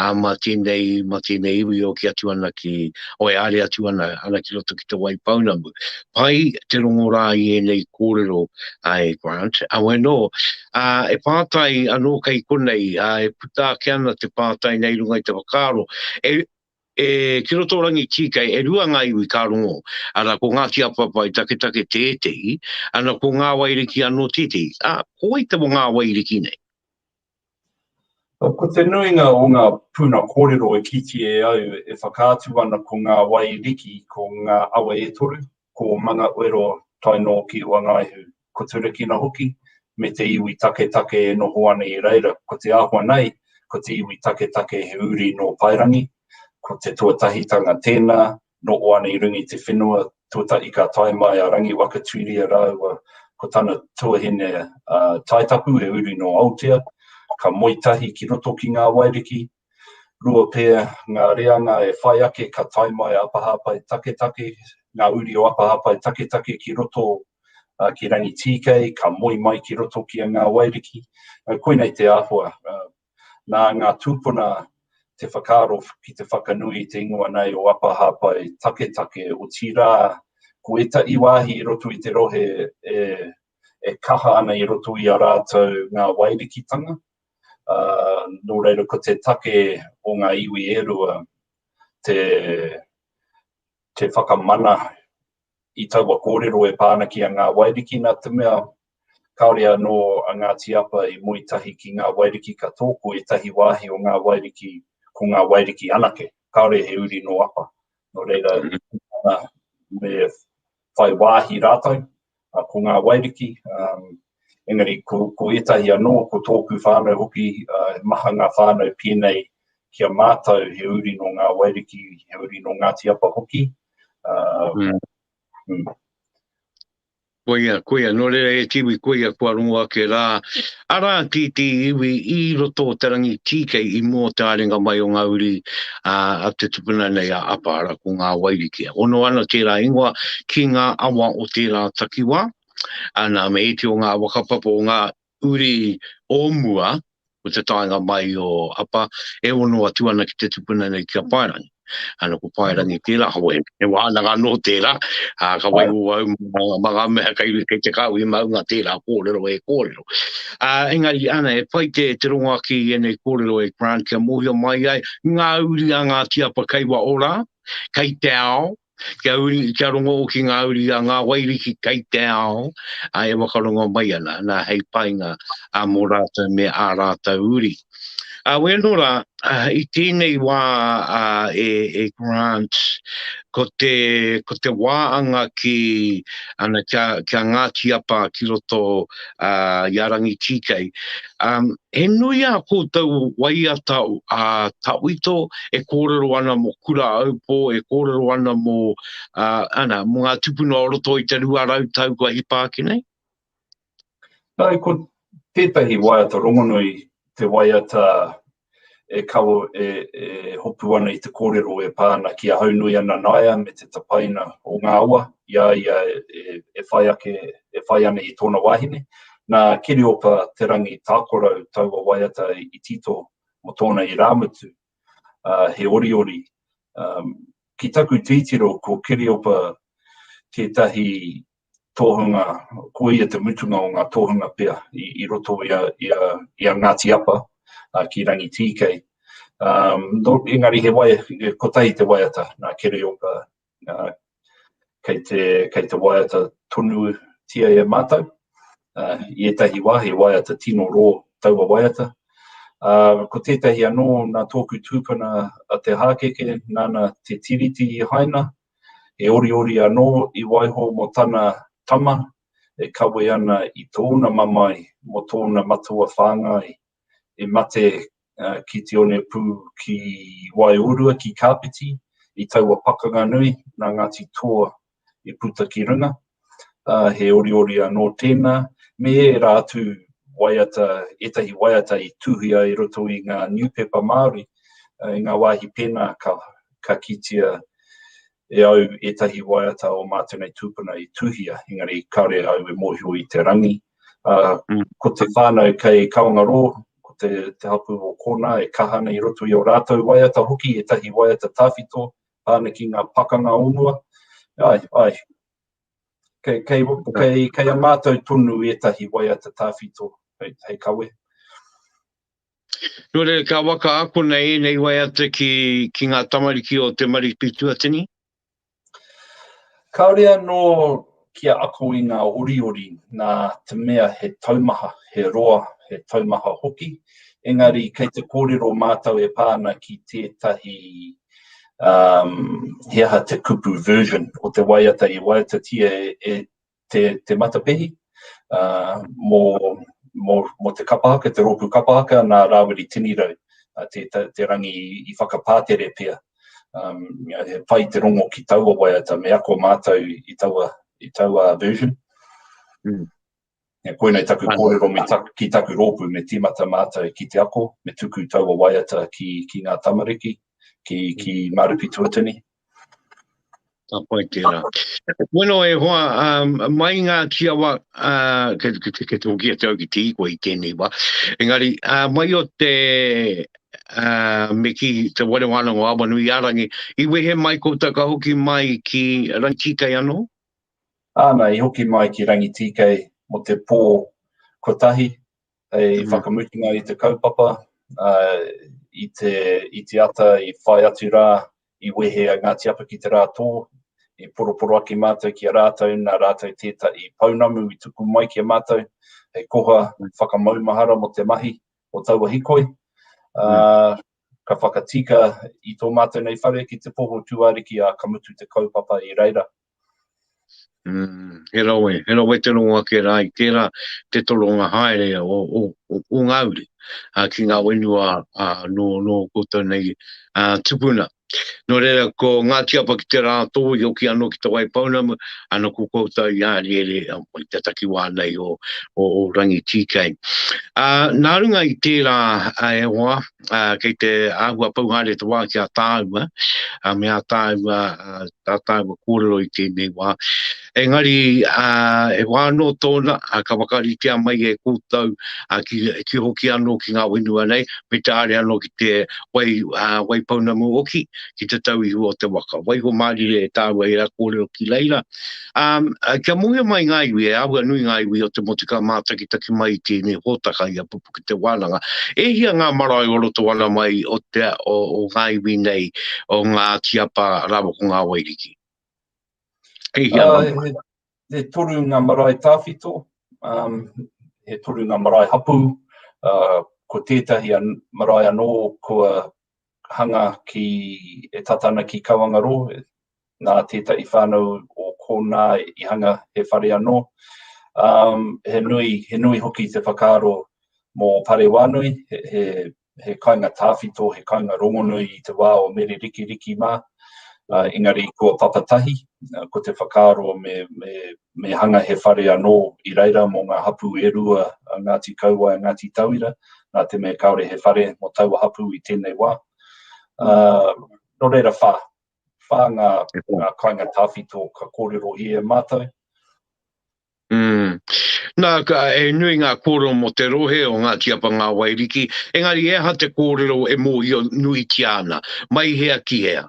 A mā tēnei, mā tēnei iwi o ki atu ana ki, o e are atu ana, ana ki roto ki te wai pounamu. pai te rongo rā i ēnei kōrero e Grant, awe nō. E pātai anō kei konei, e puta ake ana te pātai nei runga i te whakaaro, e e ki roto rangi tīkei, e rua ngā iwi ka rongo, arā, ko Ngāti Apapai taketake tētehi, ana ko Ngāwairiki anō tētehi. Ā, ko wai te Ngāwairiki nei? Ko te nuinga o ngā puna kōrero e kitea au e whakaatu ana ko ngā wai riki, ko ngā awa e toru, ko Mangaoero tae noa ki Oangaehu, ko Turakina hoki, me te iwi taketake e noho ana i reira, ko te āhua nei, ko te iwi taketake he uri nō Paerangi, ko te tuatahitanga tēnā, Nō Oane-i-rungi te whenua, tuatahi ka tae mai a Rangiwakatuiria rāua ko tana tuahine a Taitapu he uri nō Aotea, ka moe tahi ki roto ki Ngā Wairiki. Rua pea ngā reanga e whai ake ka tae mai a Apahāpai Taketake, ngā uri o Apahāpai Taketake ki roto ki Rangitīkei, ka moe mai ki roto ki a Ngā Wairiki. Koinei te āhua, Nā ngā tūpuna te whakaaro ki te whakanui i te ingoa nei o Apa Hāpai Taketake, otirā, ko ētahi wāhi i roto i te rohe e, e kaha ana i roto i a rātou ngā wairikitanga, ā, nō reira ko te take o ngā iwi e rua te, te whakamana I taua kōrero e pā ana ki a Ngā Wairiki nā te mea, kāore anō a Ngāti Apa i moe tahi ki Ngā Wairiki ka tō ko ētahi wāhi o Ngā Wairiki ko Ngā Wairiki anake, kāore he uri nō Apa. Nō reira, kūpuna me whai wāhi rātou ko Ngā Wairiki, engari ko, ko ētahi anō, ko tōku whānau hoki, he maha ngā whānau pēnei ki a mātou he uri nō Ngā Wairiki, he uri nō Ngāti Apa hoki, Uh, mm. Mm. Koia, koia, nō reira e tiwi, koia kua rongo ake rā. Arā ki te iwi i roto o te rangi tīkei i mō te arenga mai o ngā uri a, a te tupuna nei a Apahara ko ngā wairikia. Ono ana tērā ingoa ki ngā awa o tērā takiwā. Ana me eti o ngā wakapapo o ngā uri o mua o te taenga mai o Apa e ono atu ana ki te tupuna nei ki a Paerangi. Ano ko Paerangi tera ho e, e wānanga no tera, a, ka wai o au ma ngā mea kei, kei te kāu i maunga tera kōrero e kōrero. A, engari, ana, e pai te, te rongo aki i enei kōrero e Grant kia mōhio mai ai ngā uri a Ngāti Apa kei wa ora, kei te ao, Kia uri, kia rongo ki ngā uri a ngā Wairiki kei te ao, ā, e whakarongo mai ana, nā, hei painga ā mō rātou me ā rātou uri. Ā, wēnō rā, i tēnei wā ā, e, e Grant, ko te, ko te wā anga ki, ana, kia, kia Ngāti Apa ki roto ā, i a Rangitīkei, Um, he nui a koutou waiata a uh, tawito e kōrero ana mo kura aupō, e kōrero ana mo, uh, ana, mo ngā tupuna o roto i te rua rau tau kua hipa ake nei? Nā, ko tētahi waiata rongonui te waiata e kawe, e, e hopu ana i te kōrero e pā ana ki a Haunui ana naea me te tapaina o ngā awa i a ia e, e whai ake, e whai ana i tōna wāhine. Nā Kiriopa Te Rangi Tākorau taua waiata i tito mō tōna irāmutu, ā, he oriori. Um, ki taku tītiro ko Kiriopa tētahi tohunga, ko ia te mutunga o ngā tohunga pea i roto i a Ngāti Apa ki Rangitīkei. Engari he wai, kotahi te waiata, nā Kereopa, kei te waiata tonutia e mātou, i ētahi wā he waiata tino rō taua waiata. Ko tētahi anō nā tōku tūpuna a Te Hākeke, nāna te tiriti i haina, He oriori anō i waiho mō tana tama e kawe ana i tōna mamae mō tōna matua whāngai i mate ki te one pū ki Waiorua, ki Kāpiti, i taua pakanga nui nā Ngāti Toa i puta ki runga. uh, he oriori anō tēnā, me ērā atu waiata, ētahi waiata i tuhia i roto i ngā newspaper Māori, uh, i ngā wāhi pēnā ka, ka kitia e au ētahi waiata o mātou nei tūpuna i tuhia, engari kāre au e mōhio i te rangi. Uh, mm. Ko te whānau kei Kawangarō, ko te, te hapu o kōnā e kaha nei roto i o rātou waiata hoki, ētahi waiata tāwhito, tāna ki ngā pakanga o mua, ai, ai. Kei, kei, kei, kei a mātou tonu ētahi waiata tāwhito hei, hei kawe. Nō reira, ka waka akona ēnei waiata ki, ki ngā tamariki o te Mariki Tuatini? Kāore anō Kia ako i ngā oriori nā te mea he taumaha, he roa, he taumaha hoki, engari kei te kōrero mātou e pā ana ki tētahi um, he aha te kupu version o te waiata i waiatatia e, e te, te matapehi uh, mō, mō, mō te kapahaka, te rōpū kapahaka, nā Rāwiri Tinirau, uh, te, te, te rangi i whakapātere pia. Um, he pai te rongo ki taua waiata, me ako mātou i taua, i taua version. Mm. E koinei taku kōrero me tak, ki taku rōpū, me tīmata mātou ki te ako, me tuku taua waiata ki, ki ngā tamariki, ki, ki Mārupi Tuatini. Ka pai tērā. Bueno e hoa, um, mai ngā kiawa, uh, ke, ke, ke, ke tōki atu au ki te ikoa i tēnei wā. Engari, uh, mai o te uh, me ki te wale wāna ngā awa nui ārangi, i wehe mai koutou ka hoki mai ki Rangitīkei anō? Āna, i hoki mai ki Rangitīkei mo te pō kotahi, Hei whakamutunga i te kaupapa, i te, i te ata i whai atu rā, i wehe a Ngāti Apa ki te rā tō, i poroporo ake mātou ki a rātou, nā rātou tētahi pounamu i tuku mai ki a mātou, hei koha whakamaumahara mō te mahi o taua hikoi. Mm. Ka whakatika i tō mātou nei whare ki te poho tūāriki a ka mutu te kaupapa i reira. He rawe, he rawe te rongo ake rā i tērā te toronga haere o ngā uri ki ngā whenua nō koutou nei tupuna. Nō reira, ko Ngāti Apa ki te Rātōhi hoki anō ki Te Waipounamu, ana ko koutou i Ariere i te takiwā nei o Rangitīkei. Nā runga i tērā e hoa, uh, kei te āhua pau haere te wā ki a tāua, uh, me a tāua, uh, a tāua kōrero i tēnei wā. Engari, uh, e wā anō tōna, uh, ka wakaritea mai e kōtou, uh, ki, ki hoki anō ki ngā whenua nei, me te are anō ki te wai, uh, wai pounamu oki, ki te tau ihu o te waka. Waiho mārire e tāua e ra kōrero ki reira, Um, uh, kia mohio mai ngā iwi, e āhua nui ngā iwi o te motu ka mātakitaki mai i tēnei hōtaka i a pupu ki te wānanga. E hia ngā marae o roto ana mai o, te, o, o ngā iwi nei, o ngā tiapa rāwa ko ngā wairiki? E hia uh, ngā he, he toru ngā marae tāwhito, um, he toru ngā marae hapu, uh, ko tētahi an, marae anō kua hanga ki, e tata ana ki Kauangarō, nā tētahi whānau o kōnā i hanga he whare anō. Um, he, nui, he nui hoki te whakaaro mō Pare Wānui, he, he, he kainga tāwhito, he kainga rongonui i te wā o Mere Rikiriki mā. Uh, engari ko papatahi, uh, ko te whakaaro me, me me hanga he whare anō i reira mō ngā hapū e rua a Ngāti Kauae a Ngāti Tauira, nā te mea kāore he whare mō taua hapū i tēnei wā. Nō reira whā, whā ngā kāinga tāwhito ka kōrero i e mātou. Nā, e nui ngā kōrero mō te rohe o Ngāti Apa Ngā Wairiki, engari e aha te kōrero e mōhio nuitia ana, mai hea ki hea?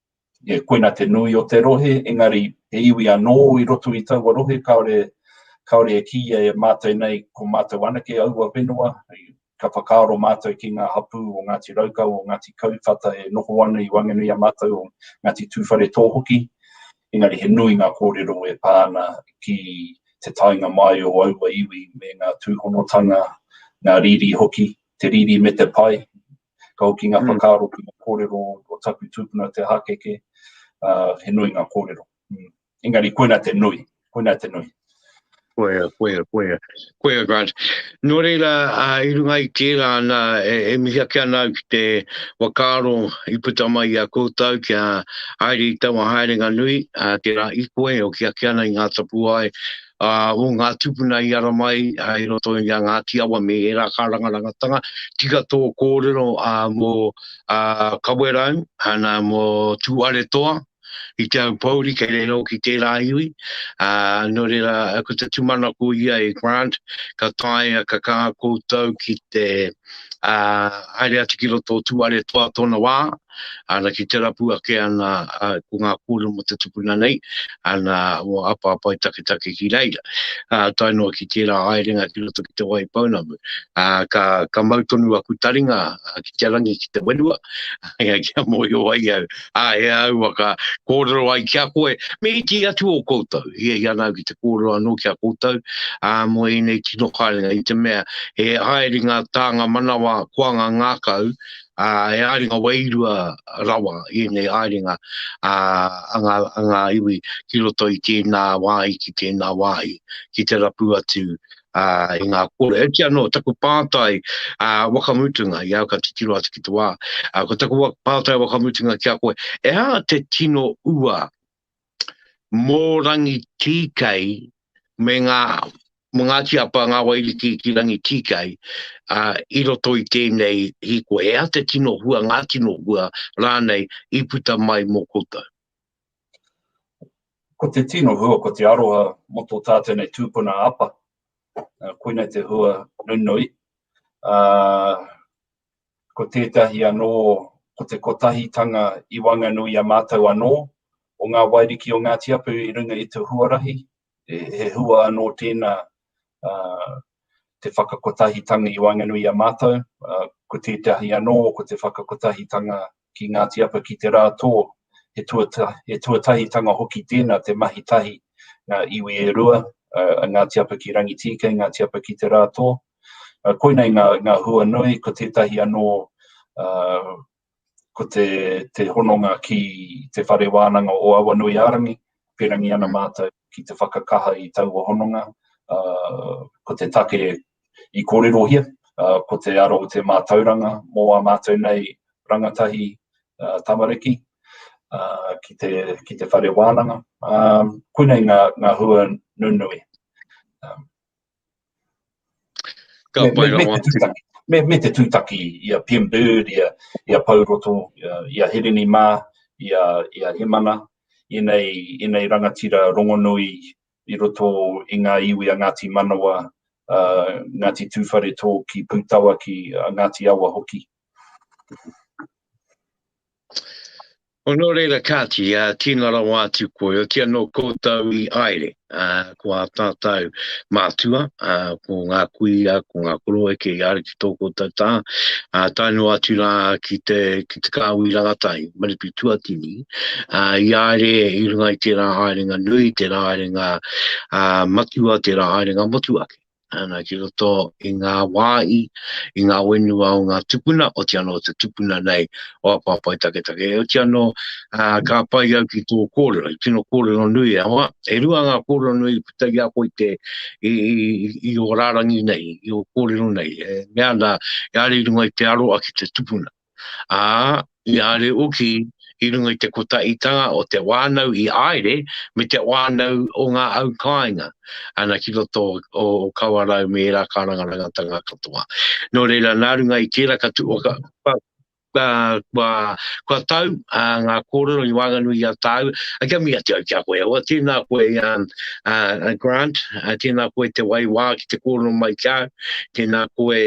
Yeah, koina te nui o te rohe, engari he iwi anō i roto i taua rohe kāore, kāore e kīia e mātou nei ko mātou anake aua whenua, ka whakaaro mātou ki ngā hapū o Ngāti Raukawa, o Ngāti Kauwhata e noho ana i Wanganui-a-Mātau, o Ngāti Tūwharetō hoki, engari he nui ngā kōrero e pā ana ki te taenga mai o aua iwi me ngā tūhonotanga, ngā riri hoki, te riri me te pai, Ka hoki ngā whakaaro ki ngā kōrero o taku tūpuna Te Hākeke, ā, he nui ngā kōrero. Engari koina te nui, koina te nui. Koia, koia, koia, koia Grant. Nō reira, i runga i tērā ana, e mihi ake ana au ki te whakaaro i puta mai i a koutou kia haere i taua haerenga nui, tērā i koe, hoki ake ana i ngā tapuwae, ā, o ngā tūpuna i ara mai i roto i a Ngāti Awa me ērā kārangarangatanga, tika tō kōrero ā, mō ā, Kawerau, ana mō Tūaretoa, i te au pouri kei rēro ki tērā iwi, ā, nō reira ko te tūmanako ia e Grant, ka taea, ka kā koutou ki te ā, haere atu ki roto o Tūaretoa tōna wā, Ana ki te rapu ake ana ko ngā kōrero mo te tupuna nei, ana o Apapa i taketake ki reira. A, tae noa ki tērā haerenga ki roto ki Te Waipounamu, a, ka, ka mau tonu aku taringa ki te rangi ki te whenua, ea kia mōhio ai au, a, e au a ka kōrero ai ki a koe, me iti atu o koutou. Hiahia ana au ki te kōrero anō ki a koutou, a, mo ēnei tino haerenga, i te mea he haerenga tānga manawa koanga ngākau, ā, he haerenga wairua rawa ēnei haerenga a ngā iwi ki roto i tēnā wāhi ki tēnā wāhi, ki te rapu atu i ngā kōrero. Heoti anō, taku pātai wakamutunga i a au ka titiro atu ki te wā, ko taku pātai wakamutunga ki a koe, e hā te tino ua mō Rangitīkei me ngā mō Ngāti Apa, ngā Wairiki ki Rangitīkei uh, i roto i tēnei hiko. He aha te tino hua, ngā tino hua rānei i puta mai mō koutou? Ko te tino hua, ko te aroha mō tō tātou nei tūpuna apa. Uh, koina te hua nunui. Uh, Ko tētahi anō, ko te kotahitanga i Wanganui a mātou anō, o ngā Wairiki o Ngāti Apu i runga i te huarahi, he hua anō tēnā te whakakotahitanga i Wanganui i a mātou, ko tētahi anō, ko te whakakotahitanga ki Ngāti Apa ki te rā tō, he he tuatahitanga hoki tēnā te mahi tahi ngā iwi e rua, a Ngāti Apa ki Rangitīkei, Ngāti Apa ki te rā tō. Koinei ngā, ngā hua nui, ko tētahi anō, uh, ko te, te hononga ki te whare wānanga o Awanui Arangi, pērangi ana mātou ki te whakakaha i taua hononga, uh, ko te take i kōrerohia, ko te aro o te mātauranga mō ā mātou nei rangatahi tamariki ki te whare wānanga. Koinei ngā hua nunui. Ka pai rawa atu. Me te tūtaki i a Pim Bird, i a Pou Roto, i a Hirini mā, i a Hemana, i nei rangatira rongonui i roto i ngā iwi a Ngāti Manawa, a Ngāti Tūwharetō ki Pūtawaki, a Ngāti Awa hoki. O nō reira kāti, tīna rawa atu koe, oti anō koutou i aere, ko ā tātou mātua, ko ngā kuia, ko ngā koroeke i aere, ki tō koutou tā, ā, tae noa atu rā ki te, ki te kāhui rangatai, Maripi Tuatini, ā, i aere i runga i tērā haerenga nui, tērā haerenga ā, matua, tērā haerenga motuhake. Ana, ki roto i ngā wāhi, i ngā whenua o ngā tupuna, oti anō te tupuna nei o Apapai Taketake. Oti anō, ā, ka pai au ki tō kōrero, he tino kōrero nui e hoa. E rua ngā kōrero nui puta i a koe i te, i, i, i o rārangi nei, i o kōrero nei, e, mea ana, e are i runga i te aroa ki te tupuna. Ā, i are uki i runga i te kotaitanga o te wānau i aere me te wānau o ngā au kāinga ana ki roto o, o Kawarau me ērā kārangarangatanga katoa. Nō reira, nā runga i tērā ka tu, ka, ka, Kua tau ngā kōrero i waenganui i a tāu, kia mihi atu au ki a koe. Awa, tēnā koe Grant, tēnā koe te waiwā ki te kōrero mai ki au, tēnā koe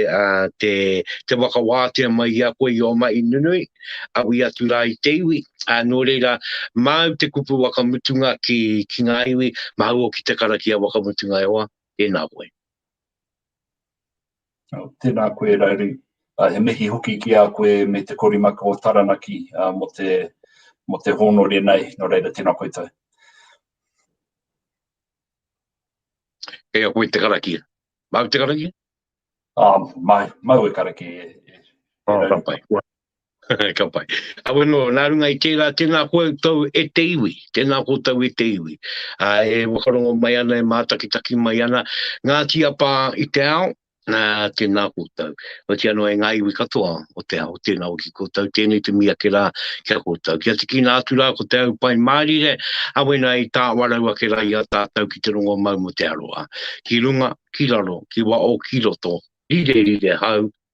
te whakawātea mai i a koe i ō mahi nunui, aui atu rā i te iwi. Nō reira, māu te kupu whakamutunga ki ngā iwi, māu hoki te karakia whakamutunga e hoa. Tēnā koe. Tēnā koe Rauru. He mihi hoki ki a koe me te korimaka o Taranaki mō te mō te hōnore nei, nō reira tēnā koutou. Kei a koe te karakia. Māu te karakia? Māu, māu e karakia e. Āta pai. Ka pai. Awe no, nā runga i tērā, tēnā koe tau e te iwi, tēnā koutou e te iwi. Ā, e whakarongo mai ana, e mātakitaki mai ana, ngā tiapā i te ao, ā, tēnā koutou. Otiia noa e ngā iwi katoa o te ao, tēnā hoki koutou, tēnei te mī ake rā ki a koutou. Kia tīkina atu rā ko Te Au Pai Mārire, awe nā i tāwarau ake rā i a tātou ki te rongomau mō te aroha. Ki runga, ki raro, ki waho, ki roto, rire, rire hau,